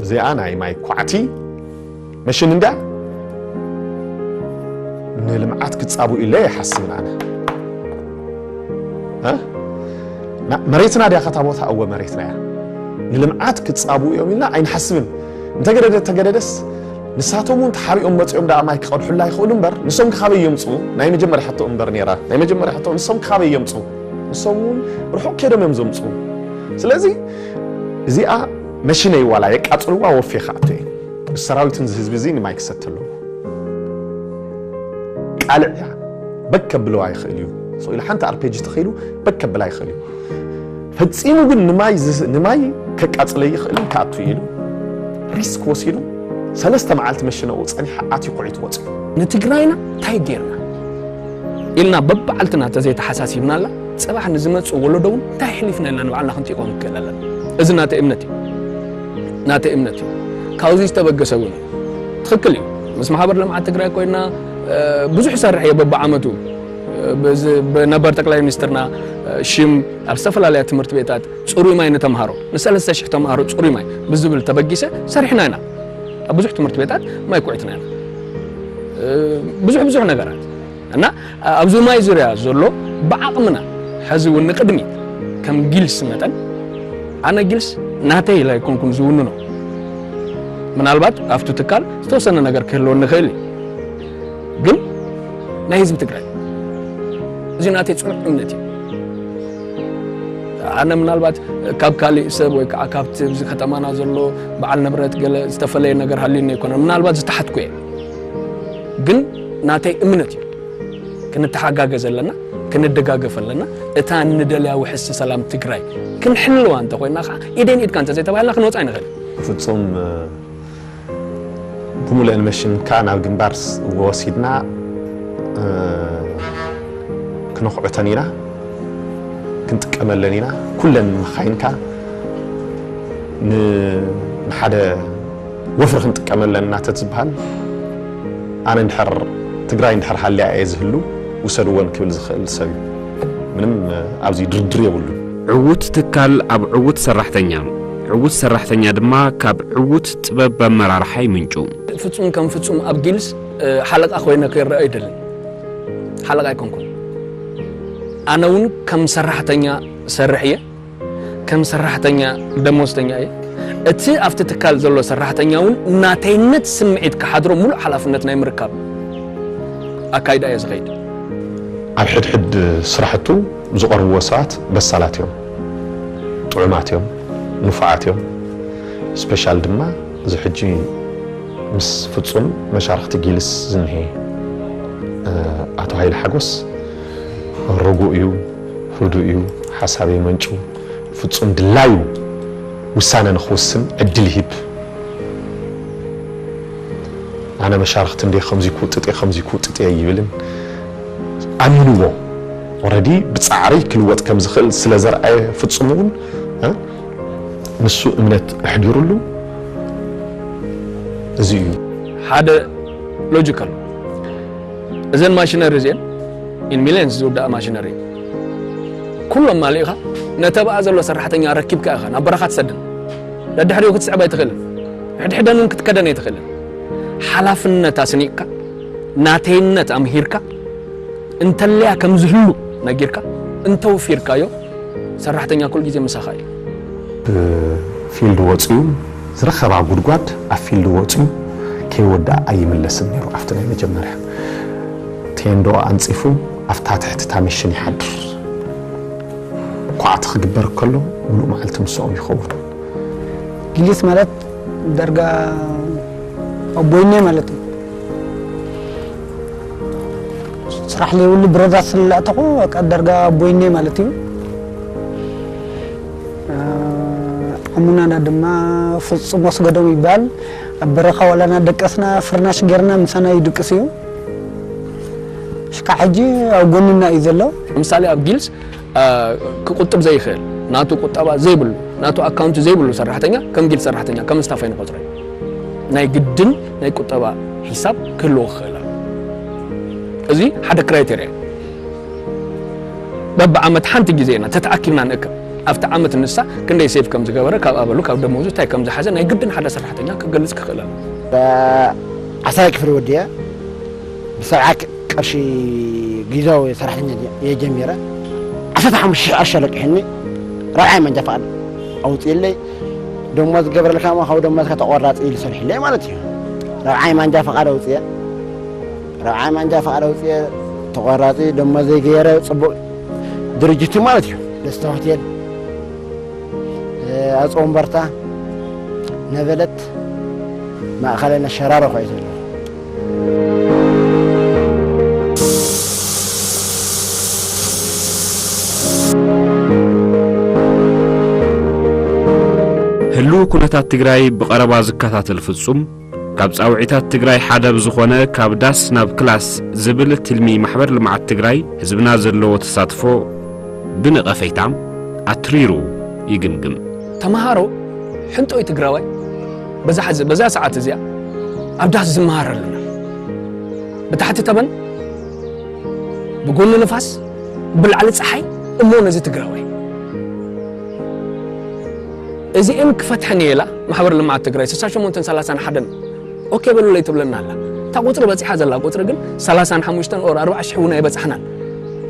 እዚኣ ናይ ማይ ኳዕቲ መሽን እንድያ ንልምዓት ክፃብኡ ኢለ ይሓስብን ኣነ መሬትና ድያ ከታ ቦታ እወ መሬትና እያ ንልምዓት ክፃብኡ እዮም ኢልና ኣይንሓስብን እንተገደደ ተገደደስ ንሳቶም እውን ተሓቢኦም መፂኦም ደኣ ማይ ክቐድሑላ ይኽእሉ እምበር ንሶም ካበይ የምፅኡ ናይ መጀመርያ ሕቶ እምበር ነይራ ናይ መጀመርያ ሕቶ ንሶም ካበይ የምፅኡ ንሶም እውን ርሑቕ ከይዶም እዮም ዘምፅኡ ስለዚ እዚኣ መሽነይ ዋላ የቃፅልዋ ወፌ ክኣቱ እየ እዚ ሰራዊት እዚ ህዝቢ እዚ ንማይ ክሰቲ ኣለዎ። ቃልዕ እያ በክ ከብለዋ ይኽእል እዩ ስኢሉ ሓንቲ ኣርፔጅ ተኺሉ በክ ከብላ ይኽእል እዩ ፈጺሙ ግን ንማይ ንማይ ከቃጽለ ይኽእል ክኣቱ ኢሉ ሪስክ ወሲዱ ሰለስተ መዓልቲ መሽነኡ ጸኒሓ ኣትዩ ኩዒቱ ወጽኡ ንትግራይና እንታይ ጌርና ኢልና በብዓልትና ተዘይተሓሳሲብናላ ጽባሕ ንዝመጽእ ወለዶ እውን እንታይ ኣሕሊፍነላ ንባዕልና ክንጥይቆ ንክእል ኣለና እዚ ናተይ እምነት እዩ ናተይ እምነት እዩ። ካብዚ ዝተበገሰ እውን ትኽክል እዩ። ምስ ማሕበር ልምዓት ትግራይ ኮይና ብዙሕ እሰርሕ እየ በብዓመቱ ብነበር ጠቅላይ ሚኒስትርና ሽም ኣብ ዝተፈላለያ ትምህርቲ ቤታት ፅሩይ ማይ ንተምሃሮ ንሰለስተ ሽሕ ተምሃሮ ፅሩይ ማይ ብዝብል ተበጊሰ ሰሪሕና ኢና ኣብ ብዙሕ ትምህርቲ ቤታት ማይ ኩዒትና ኢና ብዙሕ ብዙሕ ነገራት እና ኣብዚ ማይ ዙርያ ዘሎ ብዓቕምና ሐዚ እውን ንቅድሚት ከም ጊልስ መጠን ኣነ ጊልስ ናተይ ኢለ ኣይኮንኩን ዝውንኖ ምናልባት ኣብቲ ትካል ዝተወሰነ ነገር ክህልወኒ ይኽእል እዩ ግን ናይ ህዝቢ ትግራይ እዚ ናተይ ፅኑዕ እምነት እዩ ኣነ ምናልባት ካብ ካሊእ ሰብ ወይ ከዓ ካብቲ እዚ ከተማና ዘሎ በዓል ንብረት ገለ ዝተፈለየ ነገር ሃልዩኒ ኣይኮነን ምናልባት ዝተሓትኩ እየ ግን ናተይ እምነት እዩ ክንተሓጋገዝ ኣለና ክንደጋገፍ ኣለና እታ ንደልያ ውሕስቲ ሰላም ትግራይ ክንሕልዋ እንተኮይና ከዓ ኢደን ኢድካ እንተዘይተባሂልና ክንወፅ ኣይንኽእል ፍፁም ብሙሉእን መሽን ከዓ ናብ ግንባር ወሲድና ክነኹዕተን ኢና ክንጥቀመለን ኢና ኩለን መኻይንካ ንሓደ ወፍሪ ክንጥቀም ኣለና ተትዝብሃል ኣነ እንድሕር ትግራይ እንድሕር ሃልያ እየ ዝህሉ ውሰድወን ክብል ዝኽእል ሰብ እዩ። ምንም ኣብዚ ድርድር የብሉን። ዕዉት ትካል ኣብ ዕዉት ሰራሕተኛ፣ ዕዉት ሰራሕተኛ ድማ ካብ ዕዉት ጥበብ ኣመራርሓ ይምንጩ። ፍፁም ከም ፍፁም ኣብ ጊልስ ሓለቓ ኮይነ ክረኣ ኣይደልን። ሓለቓ ኣይኮንኩን። ኣነ እውን ከም ሰራሕተኛ ዝሰርሕ እየ። ከም ሰራሕተኛ ደሞዝተኛ እየ። እቲ ኣብቲ ትካል ዘሎ ሰራሕተኛ እውን ናተይነት ስምዒት ክሓድሮ ምሉእ ሓላፍነት ናይ ምርካብ ኣካይዳ እየ ዝኸይድ። ኣብ ሕድሕድ ስራሕቱ ዝቐርብዎ ሰባት በሳላት እዮም፣ ጥዑማት እዮም፣ ንፉዓት እዮም። ስፔሻል ድማ እዚ ሕጂ ምስ ፍፁም መሻርኽቲ ጊልስ ዝኒሀ ኣቶ ሃይለ ሓጎስ ርጉእ እዩ፣ ህዱእ እዩ፣ ሓሳብ የመንጩ፣ ፍጹም ድላዩ ውሳነ ንኽውስን ዕድል ይህብ። ኣነ መሻርኽቲ እንድየ ከምዚ ክውጥጥ እየ ከምዚ ክውጥጥ እየ ኣይብልን። ኣሚንዎ ኦረዲ ብጻዕሪ ክልወጥ ከም ዝኽእል ስለ ዘርኣየ ፍጹም እውን ንሱ እምነት ኣሕዲሩሉ እዚ እዩ። ሓደ ሎጂክ ኣሎ። እዘን ማሽነሪ እዚኤን ኢን ሚልየንስ ዝውዳኣ ማሽነሪ እየን። ኩሎም ማሊእኻ ነተብኣ ዘሎ ሰራሕተኛ ኣረኪብካ ኢኻ ናብ በረኻ ትሰደን። ደድሕሪኡ ክትስዕብ ኣይትኽእልን። ሕድሕደን እውን ክትከደን ኣይትኽእልን። ሓላፍነት ኣስኒቕካ ናተይነት ኣምሂርካ እንተለያ ከም ዝህሉ ነጊርካ እንተውፊርካዮ ሰራሕተኛ ኩል ግዜ ምሳኻ እዩ። ፊልድ ወፅዩ ዝረኸባ ጉድጓድ ኣብ ፊልድ ወጽዩ ከይወድኣ ኣይምለስን ነይሩ ኣብቲ ናይ መጀመርያ ቴንድኦ ኣንጺፉ ኣብታ ትሕቲ እታ ሚሽን ይሓድር ኳዕቲ ክግበር ከሎ ምሉእ መዓልቲ ምሶኦም ይኸውን። ጊሊት ማለት ዳርጋ ኣቦይኔ ማለት እዩ ስራሕ ለይብሉ ብረዛ ስለላእተኹ በቃ ዳርጋ ኣቦይኔ ማለት እዩ። ኣሙናና ድማ ፍጹም ወስገዶም ይበሃል። ኣብ በረኻ ዋላ እናደቀስና ፍርናሽ ጌርና ምሳና ይድቅስ እዩ። ሽካዕ ሕጂ ኣብ ጎንና እዩ ዘሎ። ንምሳሌ ኣብ ጊልስ ክቁጥብ ዘይኽእል ናቱ ቁጠባ ዘይብሉ ናቱ ኣካውንቲ ዘይብሉ ሰራሕተኛ ከም ጊልስ ሰራሕተኛ ከም ስታፍ ኣይንቆጽሮ ናይ ግድን ናይ ቁጠባ ሒሳብ ክህልዎ ክኽእል ኣሎ። እዚ ሓደ ክራይቴርያ እዩ። በብዓመት ሓንቲ ግዜ ኢና ተተኣኪብና ንእከብ። ኣብቲ ዓመት ንሳ ክንደይ ሴቭ ከም ዝገበረ፣ ካብ ኣበሉ፣ ካብ ደሞዙ እንታይ ከም ዝሓዘ ናይ ግድን ሓደ ሰራሕተኛ ክገልጽ ክኽእል ኣለዎ። ዓሰርይ ክፍሊ ወዲኣ ብሰብዓ ቅርሺ ጊዝያዊ ሰራሕተኛ እየ ጀሚረ። ዓሰርተ ሓሙሽተ ሽሕ ቅርሺ ኣለቂሑኒ ራብዓይ መንጃ ፍቓድ ኣውጺኡለይ። ደሞዝ ክገብረልካ እሞ ካብ ደሞዝካ ተቖራጺ ኢሉ ሰሪሑለይ ማለት እዩ። ራብዓይ ማንጃ ፍቓድ ኣውጺኤ። ራብዓይ ማንጃ ፍቓድ ኣውጺኤ ተቖራጺ ደሞዘይ ገይረ ጽቡቕ ድርጅት እዩ ማለት እዩ። ደስታ ሆቴል ኣፅ ወንበርታ ነበለት ማእኸላይ ነሸራሮ ኳ እዩ ዘሎ ህልው ኩነታት ትግራይ ብቐረባ ዝከታተል ፍጹም ካብ ጻውዒታት ትግራይ ሓደ ብዝኾነ ካብ ዳስ ናብ ክላስ ዝብል ትልሚ ማሕበር ልምዓት ትግራይ ህዝብና ዘለዎ ተሳትፎ ብነቐፈይታ ኣትሪሩ ይግምግም። ተምሃሮ ሕንጦይ ትግራዋይ በዛ ሕዚ በዛ ሰዓት እዚኣ ኣብ ዳስ ዝመሃር ኣለና። ብታሕቲ ተመን ብጎኒ ንፋስ ብላዕሊ ፀሓይ እሞ ነዚ ትግራዋይ እዚኤን ክፈትሐን እየ ኢላ ማሕበር ልምዓት ትግራይ ስሳ ሸሞንተን ሰላሳን ሓደን ኦኬ በሉለይ ትብለና ኣላ እታ ቁፅሪ በፂሓ ዘላ ቁፅሪ ግን ሰላሳን ሓሙሽተን ኦር ኣርባዓ ሽሕ እውን ኣይበፃሕናን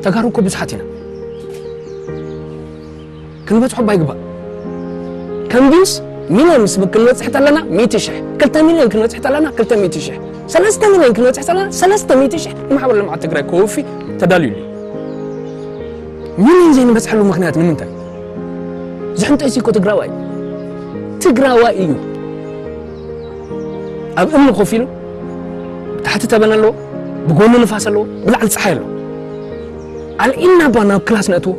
ተጋሩ እኮ ብዙሓት ኢና ክንበፅሖ እባ ይግባእ ከምዚስ ሚሊዮንስ ክንበፅሕ ተለና ሚእቲ ሽሕ ክልተ ሚሊዮን ክንበፅሕ ተለና ክልተ ሚእቲ ሽሕ ሰለስተ ሚሊዮን ክንበፅሕ ተለና ሰለስተ ሚእቲ ሽሕ ማሕበር ልምዓት ትግራይ ከወፊ ተዳልዩ እዩ ሚሊዮን ዘይንበፅሐሉ ምኽንያት ንምንታይ? ዝሕንጠይሲ እኮ ትግራዋይ እዩ። ትግራዋይ እዩ። ኣብ እምኒ ኮፍ ኢሉ ብታሕቲ ተበን ኣለዎ፣ ብጎኑ ንፋስ ኣለዎ፣ ብላዕሊ ፀሓይ ኣለዎ። ኣልዒልና እባ ናብ ክላስ ነእትዎ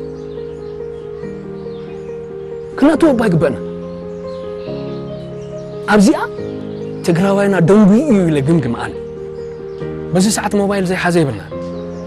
ክነእትዎ እባ ይግበእና። ኣብዚኣ ትግራዋይና ደንጉዩ እዩ ኢለ ግምግም ኣነ። በዚ ሰዓት ሞባይል ዘይሓዘ የብልናን።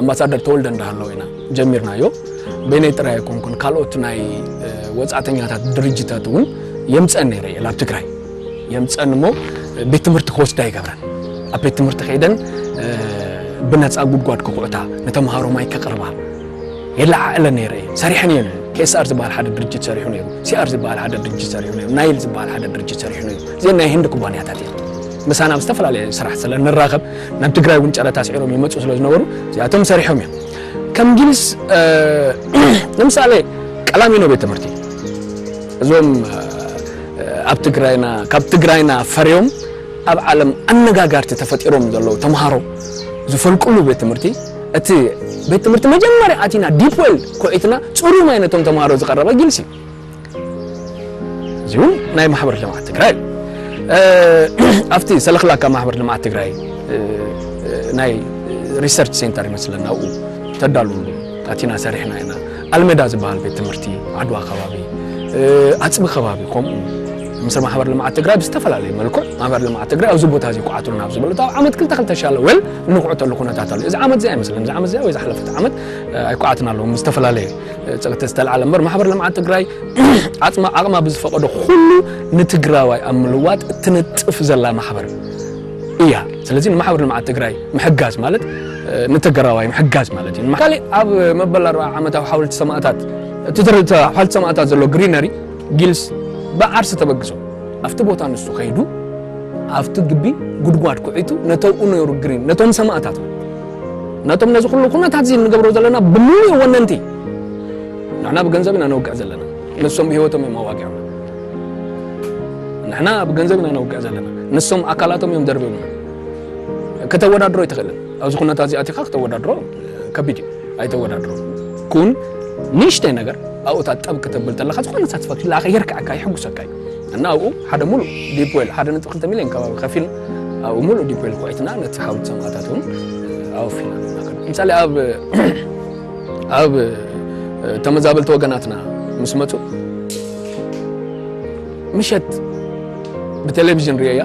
ኣምባሳደር ተወልደ እንዳሃለው ኢና ጀሚርናዮ። በይነይ ጥራይ ኣይኮንኩን ካልኦት ናይ ወጻእተኛታት ድርጅታት እውን የምፀን ነይረ እየ ናብ ትግራይ የምፀን እሞ ቤት ትምህርቲ ክወስዳ ይገብረን ኣብ ቤት ትምህርቲ ከይደን ብነፃ ጉድጓድ ክኹዕታ ንተምሃሮ ማይ ከቕርባ የለዓዕለ ነይረ እየ ሰሪሐን እየን ኬስኣር ዝበሃል ሓደ ድርጅት ሰሪሑ ነይሩ ሲኣር ዝበሃል ሓደ ድርጅት ሰሪሑ ነይሩ ናይል ዝበሃል ሓደ ድርጅት ሰሪሑ ነይሩ እዚአን ናይ ህንዲ ኩባንያታት እየን ምሳና ኣብ ዝተፈላለየ ስራሕ ስለ ንራኸብ ናብ ትግራይ እውን ጨረታ ኣስዒሮም ይመፁ ስለ ዝነበሩ እዚኣቶም ሰሪሖም እዮም ከም እንግሊዝ ንምሳሌ ቀላሚኖ ቤት ትምህርቲ እዞም ኣብ ትግራይና ካብ ትግራይና ፈርዮም ኣብ ዓለም ኣነጋጋርቲ ተፈጢሮም ዘለዉ ተምሃሮ ዝፈልቅሉ ቤት ትምህርቲ እቲ ቤት ትምህርቲ መጀመርያ ኣቲና ዲፕ ዌል ኮዒትና ፅሩይ ማይ ነቶም ተምሃሮ ዝቐረበ ግልሲ እዩ እዚውን ናይ ማሕበር ልምዓት ትግራይ እዩ ኣብቲ ሰለክላካ ማሕበር ልምዓት ትግራይ ናይ ሪሰርች ሴንተር ይመስለና ኣብኡ ተዳሉ ኣቲና ሰሪሕና ኢና ኣልመዳ ዝበሃል ቤት ትምህርቲ ዓድዋ ከባቢ ኣፅቢ ከባቢ ከምኡ ምስ ማሕበር ልምዓት ትግራይ ብዝተፈላለየ መልክዕ ማሕበር ልምዓት ትግራይ ኣብዚ ቦታ እዚ ኩዓቱ ናብ ዝበለቶ ኣብ ዓመት ክልተ ክልተ ሻለ ወል እንኩዕተሉ ኩነታት ኣሎ እዚ ዓመት እዚኣ ይመስለኒ እዚ ዓመት እዚኣ ወይ ዝሓለፈት ዓመት ኣይኩዓትና ኣለዎም ዝተፈላለየ ጸቕቲ ዝተልዓለ እምበር ማሕበር ልምዓት ትግራይ ዓጽማ ዓቕማ ብዝፈቐዶ ኩሉ ንትግራዋይ ኣብ ምልዋጥ እትነጥፍ ዘላ ማሕበር እያ። ስለዚ ንማሕበር ልምዓት ትግራይ ምሕጋዝ ማለት ንትግራዋይ ምሕጋዝ ማለት እዩ። ካሊእ ኣብ መበል ኣርብዓ ዓመታዊ ሓወልቲ ሰማእታት እቲ ሓወልቲ ሰማእታት ዘሎ ግሪነሪ ጊልስ ብዓርሲ ተበግሶ ኣብቲ ቦታ ንሱ ከይዱ ኣብቲ ግቢ ጉድጓድ ኩዒቱ ነተብኡ ነሩ ግሪን ነቶም ሰማእታት ነቶም ነዚ ኩሉ ኩነታት እዚ እንገብሮ ዘለና ብምሉእ ወነንቲ ንሕና ብገንዘብ ኢና ነውግዕ ዘለና ንሶም ብሂወቶም እዮም ኣዋጊዖም ንሕና ብገንዘብ ኢና ነውግዕ ዘለና ንሶም ኣካላቶም እዮም ደርብዮም ከተወዳድሮ ኣይትኽእልን ኣብዚ ኩነታት እዚ ኣቲኻ ክተወዳድሮ ከቢድ እዩ ኣይተወዳድሮ ኩን ንእሽተይ ነገር ኣብኡታት ጠብ ክተብል ተለካ ዝኾነ ሳትስፋክሽን ላኸ የርክዐካ ይሕጉሰካ እዩ እና ኣብኡ ሓደ ሙሉእ ዲፕ ዌል ሓደ ነጥቢ ክልተ ሚልዮን ከባቢ ከፊልና ኣብኡ ሙሉእ ዲፕ ዌል ኩዒትና ነቲ ሓውልቲ ሰማእታት እውን ኣወፊና ምሳሌ ኣብ ኣብ ተመዛበልቲ ወገናትና ምስ መፁ ምሸት ብቴሌቪዥን ርየያ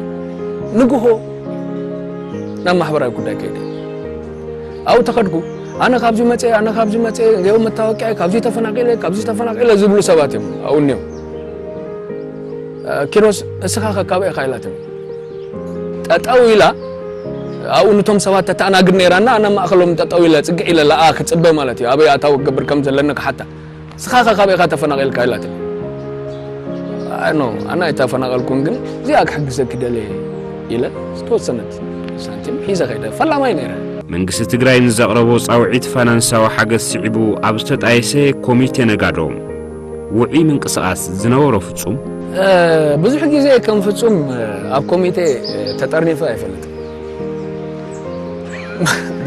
ንግሆ ናብ ማሕበራዊ ጉዳይ ከይደ ኣብኡ ተኸድኩ ኣነ ካብዚ መፀ ኣነ ካብዚ መፀ ገው መታወቂያ ካብዚ ተፈናቂለ ካብዚ ተፈናቂለ ዝብሉ ሰባት እዮም ኣብኡ እኒኦም ኪሮስ እስኻ ከካበ ኢኻ ኢላትኒ ጠጠው ኢላ ኣብኡ ንቶም ሰባት ተተኣናግድ ነይራ እና ኣነ ማእኸሎም ጠጠው ኢለ ፅግዕ ኢለ ለኣ ክፅበ ማለት እዩ ኣበይ ኣታዊ ክገብር ከም ዘለኒ ክሓታ እስኻ ከካበ ኢኻ ተፈናቂልካ ኢላትኒ ኖ ኣነ ኣይተፈናቀልኩን ግን እዚኣ ክሕግዘኪ ደለየ ኢለ ዝተወሰነት ሳንቲም ሒዘ ከይደ ፈላማይ ነይረ መንግስቲ ትግራይ ንዘቕረቦ ጻውዒት ፋይናንሳዊ ሓገዝ ስዒቡ ኣብ ዝተጣየሰ ኮሚቴ ነጋዶ ውዑይ ምንቅስቓስ ዝነበሮ ፍጹም፣ ብዙሕ ግዜ ከም ፍጹም ኣብ ኮሚቴ ተጠርኒፈ ኣይፈልጥን።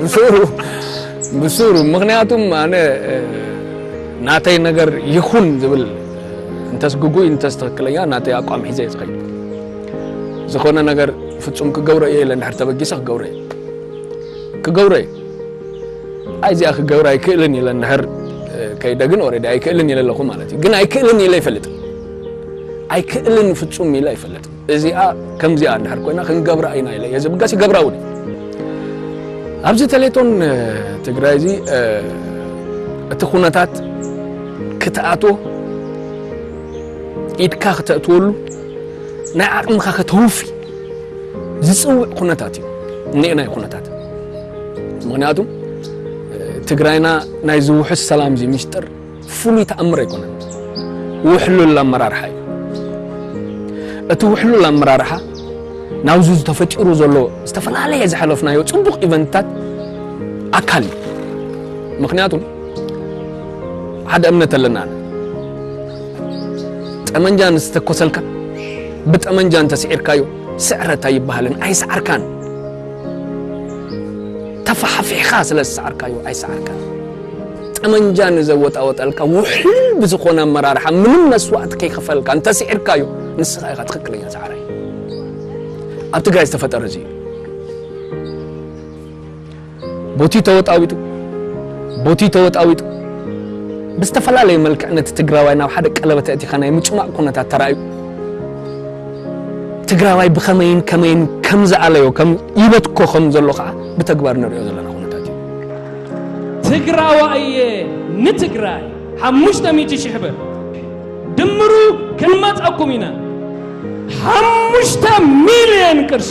ብሱሩ ብሱሩ ምኽንያቱም ኣነ ናተይ ነገር ይኹን ዝብል እንተስ ግጉይ እንተስ ትኽክለኛ ናተይ ኣቋም ሒዘ እየ ዝኸይድ። ዝኾነ ነገር ፍጹም ክገብሮ እየ ኢለ እንድሕር ተበጊሰ ክገብሮ እየ ክገብሮ እየ። ኣይ እዚኣ ክገብራ ኣይክእልን ኢለ እንድሕር ከይደ ግን ኦሬዲ ኣይክእልን ኢለ ኣለኹ ማለት እዩ ግን ኣይክእልን ኢለ ይፈልጥ ኣይክእልን ፍጹም ኢለ ይፈልጥ እዚኣ ከምዚኣ እንድሕር ኮይና ክንገብራ ኢና ኢለ እየ ዝብገስ ይገብራ እውን ኣብዚ ተሌቶን ትግራይ እዚ እቲ ኩነታት ክትኣትዎ ኢድካ ክተእትወሉ ናይ ዓቕምኻ ከተውፊ ዝፅውዕ ኩነታት እዩ እኒኤና ኩነታት ምክንያቱ ትግራይና ናይ ዝውሑስ ሰላም እዚ ምስጢር ፍሉይ ተኣምር ኣይኮነን፣ ውሕሉል ኣመራርሓ እዩ። እቲ ውሕሉል ኣመራርሓ ናብዚ ዝተፈጢሩ ዘሎ ዝተፈላለየ ዝሓለፍናዮ ፅቡቕ ኢቨንትታት ኣካል እዩ። ምክንያቱ ሓደ እምነት ኣለና ጠመንጃ ንዝተኮሰልካ ብጠመንጃ እንተስዒርካዮ ስዕረት ኣይበሃልን፣ ኣይሰዓርካን። ተፋሕፊሕኻ ስለ ዝሰዓርካዮ ኣይሰዓርካን። ጠመንጃ ንዘወጣወጠልካ ውሕሉል ብዝኾነ ኣመራርሓ ምንም መስዋእቲ ከይኸፈልካ እንተስዒርካዮ ንስኻ ኢኻ ትኽክለኛ ሰዓራይ። ኣብ ትግራይ ዝተፈጠረ እዚ እዩ። ቦቲ ተወጣዊጡ ቦቲ ተወጣዊጡ ብዝተፈላለየ መልክዕ ነቲ ትግራዋይ ናብ ሓደ ቀለበት ኣእቲኻ ናይ ምጭማቕ ኩነታት ተራእዩ። ትግራዋይ ብኸመይን ከመይን ከም ዝኣለዮ ከም ይበትኮ ከም ዘሎ ከዓ ብተግባር ንሪኦ ዘለና ኩነታት እዩ። ትግራዋ እየ ንትግራይ ሓሙሽተ ሚእቲ ሽሕ ብር ድምሩ ክንመፀኩም ኢና ሓሙሽተ ሚልየን ቅርሺ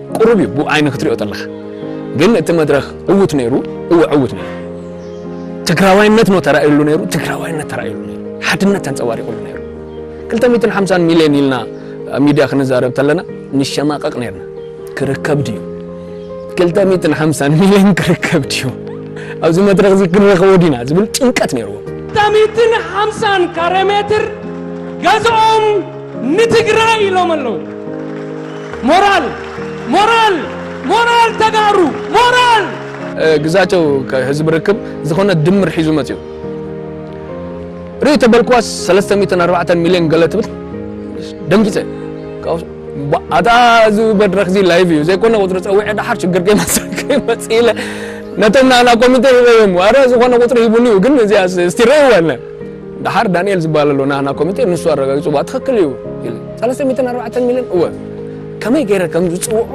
ቁሩብ እዩ ብኡ ዓይኒ ክትሪኦ ተለኻ ግን እቲ መድረኽ ዕዉት ነይሩ እወ ዕዉት ነይሩ ትግራዋይነት ነው ተራእዩሉ ነይሩ ትግራዋይነት ተራእዩሉ ነይሩ ሓድነት ተንጸባሪቑሉ ነይሩ 250 ሚልዮን ኢልና ሚድያ ክንዛረብ ተለና ንሸማቐቕ ነይርና ክርከብ ድዩ ክልተ ሚእትን ሓምሳን ሚልዮን ክርከብ ድዩ ኣብዚ መድረኽ እዚ ክንረኽቦ ዲና ዝብል ጭንቀት ነይርዎ ክልተ ሚእትን ሓምሳን ካሬ ሜትር ገዝኦም ንትግራይ ኢሎም ኣለዉ ሞራል ሞራል ሞራል ተጋሩ ሞራል። ግዛቸው ከህዝቢ ርክብ ዝኾነ ድምር ሒዙ መጺኡ ርእይ ተበልክዋስ ሰለስተ ሚእትን ኣርባዕተን ሚልዮን ገለ ትብል ደንጊጸ ካብኡ ኣታ እዚ መድረኽ እዚ ላይቭ እዩ ዘይኮነ ቁፅሪ ፀዊዐ ደሓር ሽግር ከይመፅእ ኢለ ነቶም ናና ኮሚቴ ሂበዮም ኣረ ዝኾነ ቁፅሪ ሂቡኒ እዩ ግን እዚኣ እስቲ ረእይዋ ኢለ ደሓር ዳኒኤል ዝበሃል ኣሎ ናህና ኮሚቴ ንሱ ኣረጋጊጹ እባ ትኽክል እዩ ኢለ ሰለስተ ሚእትን ኣርባዕተን ሚልዮን እወ ከመይ ገይረ ከም ዝጽውዖ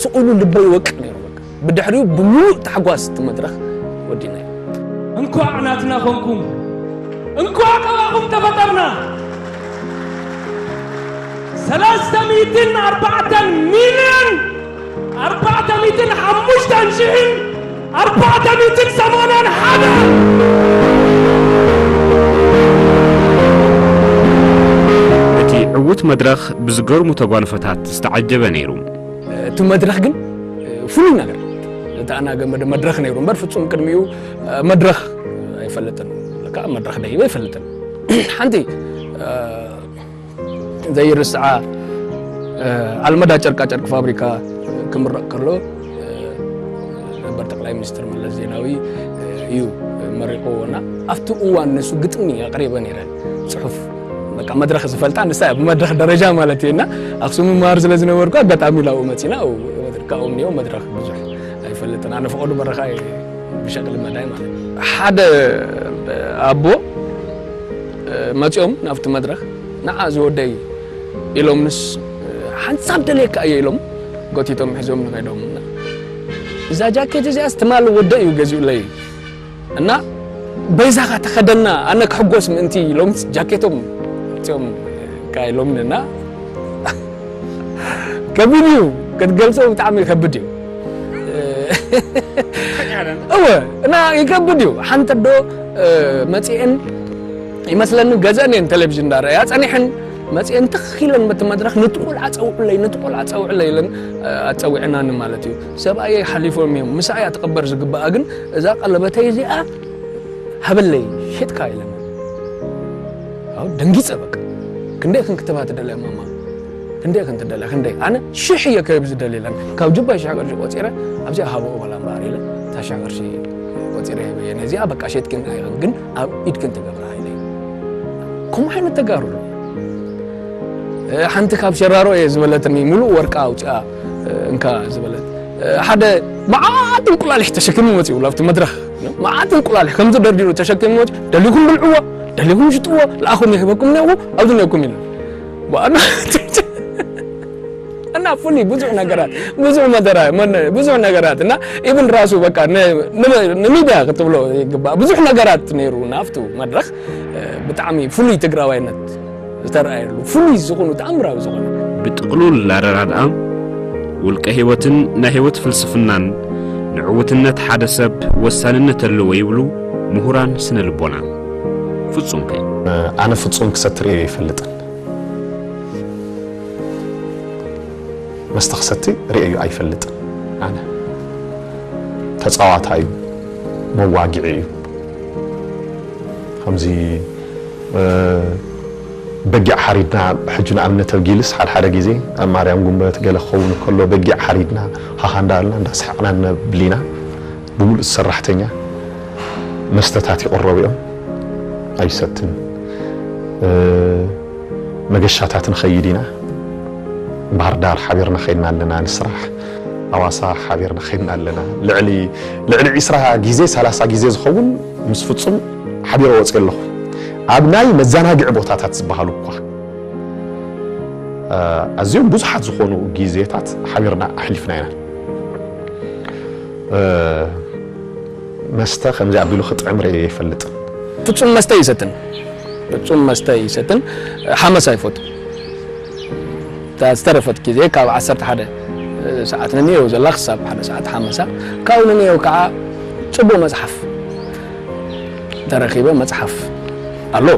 ስቕ ኢሉ ልበይ ይወቅዕ ነይሩ በቃ ብድሕሪኡ ብምሉእ ታሕጓስ እቲ መድረኽ ወዲእናዮ እንኳዕ ናትና ኮንኩም እንኳዕ ካባኹም ተፈጠርና ሰለስተ ሚእትን ኣርባዕተን ሚልዮን ኣርባዕተ ሚእትን ሓሙሽተን ሽሕን ኣርባዕተ ሚእትን ሰማንያን ሓደን። እቲ ዕዉት መድረኽ ብዝገርሙ ተጓንፎታት ዝተዓጀበ ነይሩ። እቲ መድረኽ ግን ፍሉይ ነገር ዝተኣናገደ መድረኽ ነይሩ እምበር ፍጹም ቅድሚኡ መድረኽ ኣይፈልጥን። ለካ መድረኽ ደይበ ኣይፈልጥን ሓንቲ ዘይርስዓ ኣልመዳ ጨርቃጨርቂ ፋብሪካ ክምረቕ ከሎ ነበር ጠቅላይ ሚኒስትር መለስ ዜናዊ እዩ መሪቑዎና ኣብቲ እዋን ንሱ ግጥሚ ኣቕሪበ ነይረ ፅሑፍ በቃ መድረኽ ዝፈልጣ ንሳ ብመድረኽ ደረጃ ማለት እየና ኣክሱም መሃር ስለ ዝነበርኩ ኣጋጣሚ ላብኡ መፂና ካብኡ እኒኦ መድረኽ ብዙሕ ኣይፈልጥን ኣነ ፈቐዱ በረኻ ብሸቅሊ መዳይ ማለት ሓደ ኣቦ መጺኦም ናብቲ መድረኽ ንዓ ዝወደይ ኢሎምንስ ሓንሳብ ደልየካ እየ ኢሎም ጎቲቶም ሒዞምኒ ከይዶም እና እዛ ጃኬት እዚኣስ ትማሊ ወደይ እዩ ገዚኡለይ እና በይዛኻ ተኸደና ኣነ ክሕጎስ ምእንቲ ኢሎምስ ጃኬቶም መጺኦም ካ ኢሎምኒ እና ከቢድ እዩ ክትገልጾ ብጣዕሚ ከብድ እዩ እወ እና ይከብድ እዩ ሓንቲ ዶ መፅኤን ይመስለኒ ገዘን እየን ቴሌቭዥን እንዳረኣያ ፀኒሐን መፅኤን ትኽ ኢለን በቲ መድረኽ ነቲ ቆልዓ ፀውዕለይ ነቲ ቆልዓ ፀውዕለይ ኢለን ኣፀዊዐናኒ ማለት እዩ ሰብኣየይ ሓሊፎም እዮም ምሳ እያ ትቕበር ዝግብኣ ግን እዛ ቀለበተይ እዚኣ ሃበለይ ሸጥካ ኢለን ደንጊፀ በቃ ክንደይ ክንክትባት ደለያ ማማ ክንደይ ክንትደልያ ክንደይ ኣነ ሽሕ እየ ከብ ዝደልየለን ካብ ጅባይ ሽሕ ቅርሺ ቆፂረ ኣብዚኣ ሃበኡ በላ እምበኣር ኢለ እታ ሽሕ ቅርሺ ቆፂረ ሂበየ ነዚኣ በቃ ሸጥክን ኣይኽን ግን ኣብ ኢድክን ትገብራ ኢለ ከምኡ ዓይነት ተጋሩ ሓንቲ ካብ ሸራሮ እየ ዝበለትኒ ሙሉእ ወርቃ ኣውፅኣ እንካ ዝበለት ሓደ መዓት እንቁላሊሕ ተሸኪሙ መፅኡ ላብቲ መድረኽ መዓት እንቁላሊሕ ከምዚ ደርዲሩ ተሸኪሙ መፅኡ ደሊኹም ብልዕዎ ደሊኹም ሽጥዎ ልኣኹም ይህበኩም ነዎ ኣብዚ ነኩም ኢሉ እና ፉሊ ብዙ ነገራት ብዙ መደራ ብዙ ነገራት እና ኢብን ራሱ በቃ ንሚድያ ክትብሎ ይግባእ ብዙሕ ነገራት ነይሩ ናብቱ መድረኽ ብጣዕሚ ፍሉይ ትግራዋይነት ዝተረኣየሉ ፍሉይ ዝኾኑ ተኣምራዊ ዝኾነ ብጥቕሉል ኣረዳድኣ ውልቀ ህይወትን ናይ ህይወት ፍልስፍናን ንዕውትነት ሓደ ሰብ ወሳንነት ኣለዎ ይብሉ ምሁራን ስነ ልቦና። ፍጹም ከይ ኣነ ፍጹም ክሰቲ ርእየዮ ኣይፈልጥን መስተ ክሰቲ ርእየዮ ኣይፈልጥን ኣነ ተጻዋታይ እዩ መዋግዒ እዩ ከምዚ በጊዕ ሓሪድና ሕጂ ንኣብነት ኣብ ጊልስ ሓድሓደ ግዜ ኣብ ማርያም ጉንበት ገለ ክኸውን ከሎ በጊዕ ሓሪድና ሃሃ እንዳበልና እንዳሰሓቕና ነብሊና ብምሉእ ሰራሕተኛ መስተታት ይቕረቡ እዮም፣ ኣይሰትን። መገሻታት ንኸይድ ኢና፣ ባህርዳር ሓቢርና ከይድና ኣለና ንስራሕ፣ ኣዋሳ ሓቢርና ከይድና ኣለና። ልዕሊ ልዕሊ ዒስራ ግዜ ሰላሳ ግዜ ዝኸውን ምስ ፍጹም ሓቢረ ወጽየ ኣለኹ። ኣብ ናይ መዘናግዒ ቦታታት ዝበሃሉ እኳ ኣዝዮም ብዙሓት ዝኾኑ ግዜታት ሓቢርና ኣሕሊፍና ኢና። መስተ ከምዚ ኣቢሉ ክጥዕም ርእየ ኣይፈልጥን። ፍጹም መስተ ኣይሰትን ፍጹም መስተ ኣይሰትን ሓመሳ ኣይፈቱን እታ ዝተረፈት ግዜ ካብ ዓሰርተ ሓደ ሰዓት ነንየው ዘላ ክሳብ ሓደ ሰዓት ሓመሳ ካብኡ ነንየው ከዓ ጽቡቅ መጽሓፍ ተረኪበ መጽሓፍ ኣሎ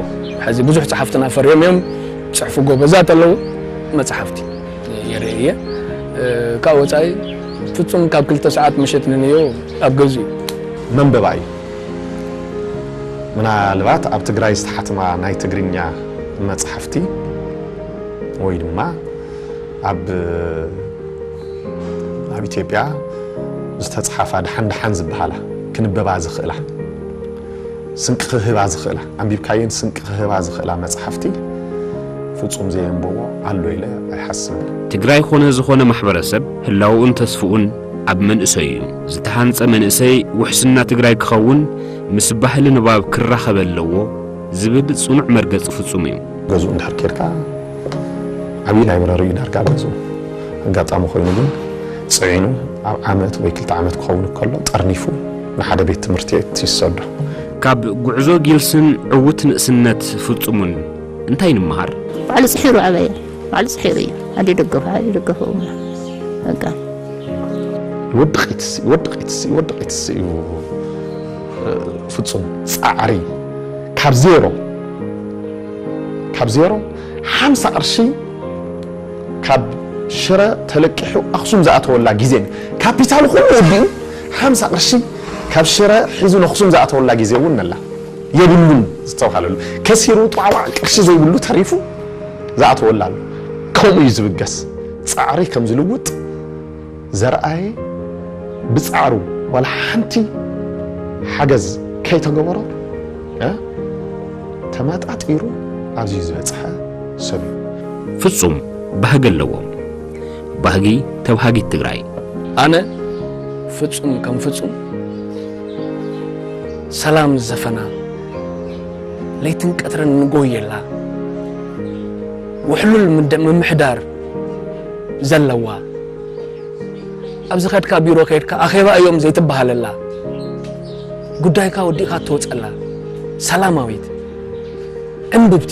ሕዚ ብዙሕ ጸሓፍትና ፈርዮም እዮም ዝጽሕፉ ጎበዛት ኣለዉ መጽሓፍቲ ይርኢ እየ ካብ ወፃኢ ፍፁም ካብ ክልተ ሰዓት ምሸት ንንዮ ኣብ ገዝኡ እዩ። መንበባ እዩ። ምናልባት ኣብ ትግራይ ዝተሓትማ ናይ ትግርኛ መፅሓፍቲ ወይ ድማ ኣብ ኣብ ኢትዮጵያ ዝተፅሓፋ ደሓን ደሓን ዝበሃላ ክንበባ ዝኽእላ ስንቂ ክህባ ዝኽእላ ኣንቢብካየን ስንቂ ክህባ ዝኽእላ መጽሓፍቲ ፍጹም ዘየንበቦ ኣሎ ኢለ ኣይሓስብን። ትግራይ ኾነ ዝኾነ ማሕበረሰብ ህላውኡን ተስፍኡን ኣብ መንእሰዩ እዩ። ዝተሃንፀ መንእሰይ ውሕስና ትግራይ ክኸውን ምስ ባህሊ ንባብ ክራኸብ ኣለዎ ዝብል ፅኑዕ መርገፂ ፍፁም እዩ። ገዝኡ እንድሕር ኬድካ ዓብዪ ላይብረሪ እዩ ዳርጋ ኣብ ገዝኡ። ኣጋጣሚ ኮይኑ ግን ፅዒኑ ኣብ ዓመት ወይ ክልተ ዓመት ክኸውን ከሎ ጠርኒፉ ንሓደ ቤት ትምህርቲ ይሰዶ። ካብ ጉዕዞ ጊልስን ዕውት ንእስነት ፍጹሙን እንታይ ንምሃር? ባዕሉ ጽሒሩ ኣበየ ባዕሉ ጽሒሩ እዩ ኣደ ደገፉ ሓደ ደገፉ በቃ ይወድቂትስ ይወድቂትስ ይወድቂትስ እዩ ፍጹም ጻዕሪ ካብ ዜሮ ካብ ዜሮ ሓምሳ ቅርሺ ካብ ሽረ ተለቂሑ ኣኽሱም ዝኣተወላ ግዜ ካፒታሉ ኩሉ ወዲኡ ሓምሳ ቅርሺ ካብ ሽረ ሒዙ ነኹሱም ዝኣተወላ ግዜ እውን ነላ። የብሉን ዝተብሃለሉ ከሲሩ ጧዕዋዕ ቅርሺ ዘይብሉ ተሪፉ ዝኣተወላ ኣሎ። ከምኡ እዩ ዝብገስ። ጻዕሪ ከም ዝልውጥ ዘርኣየ ብጻዕሩ ዋላ ሓንቲ ሓገዝ ከይተገበሮ ተመጣጢሩ ኣብዚ ዝበጽሐ ሰብ እዩ። ፍጹም ባህጊ ኣለዎም። ባህጊ ተብሃጊት ትግራይ። ኣነ ፍጹም ከም ፍጹም ሰላም ዝሰፈና ለይትን ቀትርን ንጎየላ ውሕሉል ምደ- ምምሕዳር ዘለዋ ኣብ ዝኸድካ ቢሮ ከይድካ ኣኼባ እዮም ዘይትበሃለላ ጉዳይካ ወዲእካ እትወጸላ ሰላማዊት ዕንብብቲ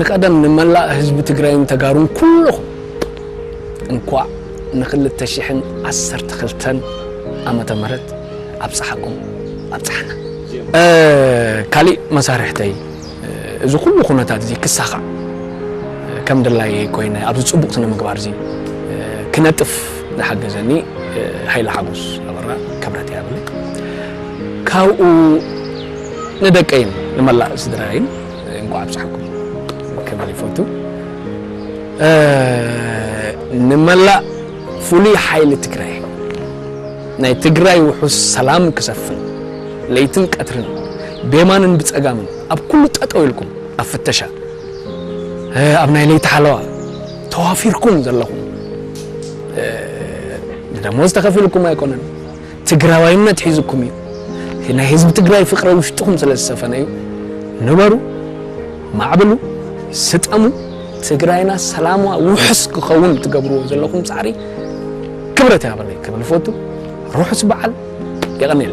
ንቀደም ንመላእ ህዝቢ ትግራይን ተጋሩን ኩሉኹም እንኳዕ ንክልተ ሽሕን ዓሰርተ ክልተን ዓመተ ምህረት ኣብፀሓኩም ኣብፀሓና። ካሊእ መሳርሕተይ እዚ ኩሉ ኩነታት እዚ ክሳኻዕ ከም ድላየይ ኮይነ ኣብዚ ፅቡቕ ስነ ምግባር እዚ ክነጥፍ ዝሓገዘኒ ሃይለ ሓጎስ ኣበራ ክብረት የሃበለይ ካብኡ ንደቀይን ንመላእ ስድራይን እንቋዕ ኣብጽሓኩም ክብል ይፈቱ። ንመላእ ፍሉይ ሓይሊ ትግራይ ናይ ትግራይ ውሑስ ሰላም ክሰፍን ለይትን ቀትርን ቤማንን ብጸጋምን ኣብ ኩሉ ጠጠው ኢልኩም ኣብ ፍተሻ ኣብ ናይ ለይቲ ሓለዋ ተዋፊርኩም ዘለኹም ብደሞዝ ተኸፊልኩም ኣይኮነን ትግራዋይነት ሒዙኩም እዩ ናይ ህዝቢ ትግራይ ፍቅሪ ኣብ ውሽጥኹም ስለ ዝሰፈነ እዩ ንበሩ ማዕብሉ ስጠሙ ትግራይና ሰላሟ ውሑስ ክኸውን ትገብርዎ ዘለኹም ፃዕሪ ክብረት ያበለይ ክብል ይፈቱ ርሑስ በዓል የቀኔል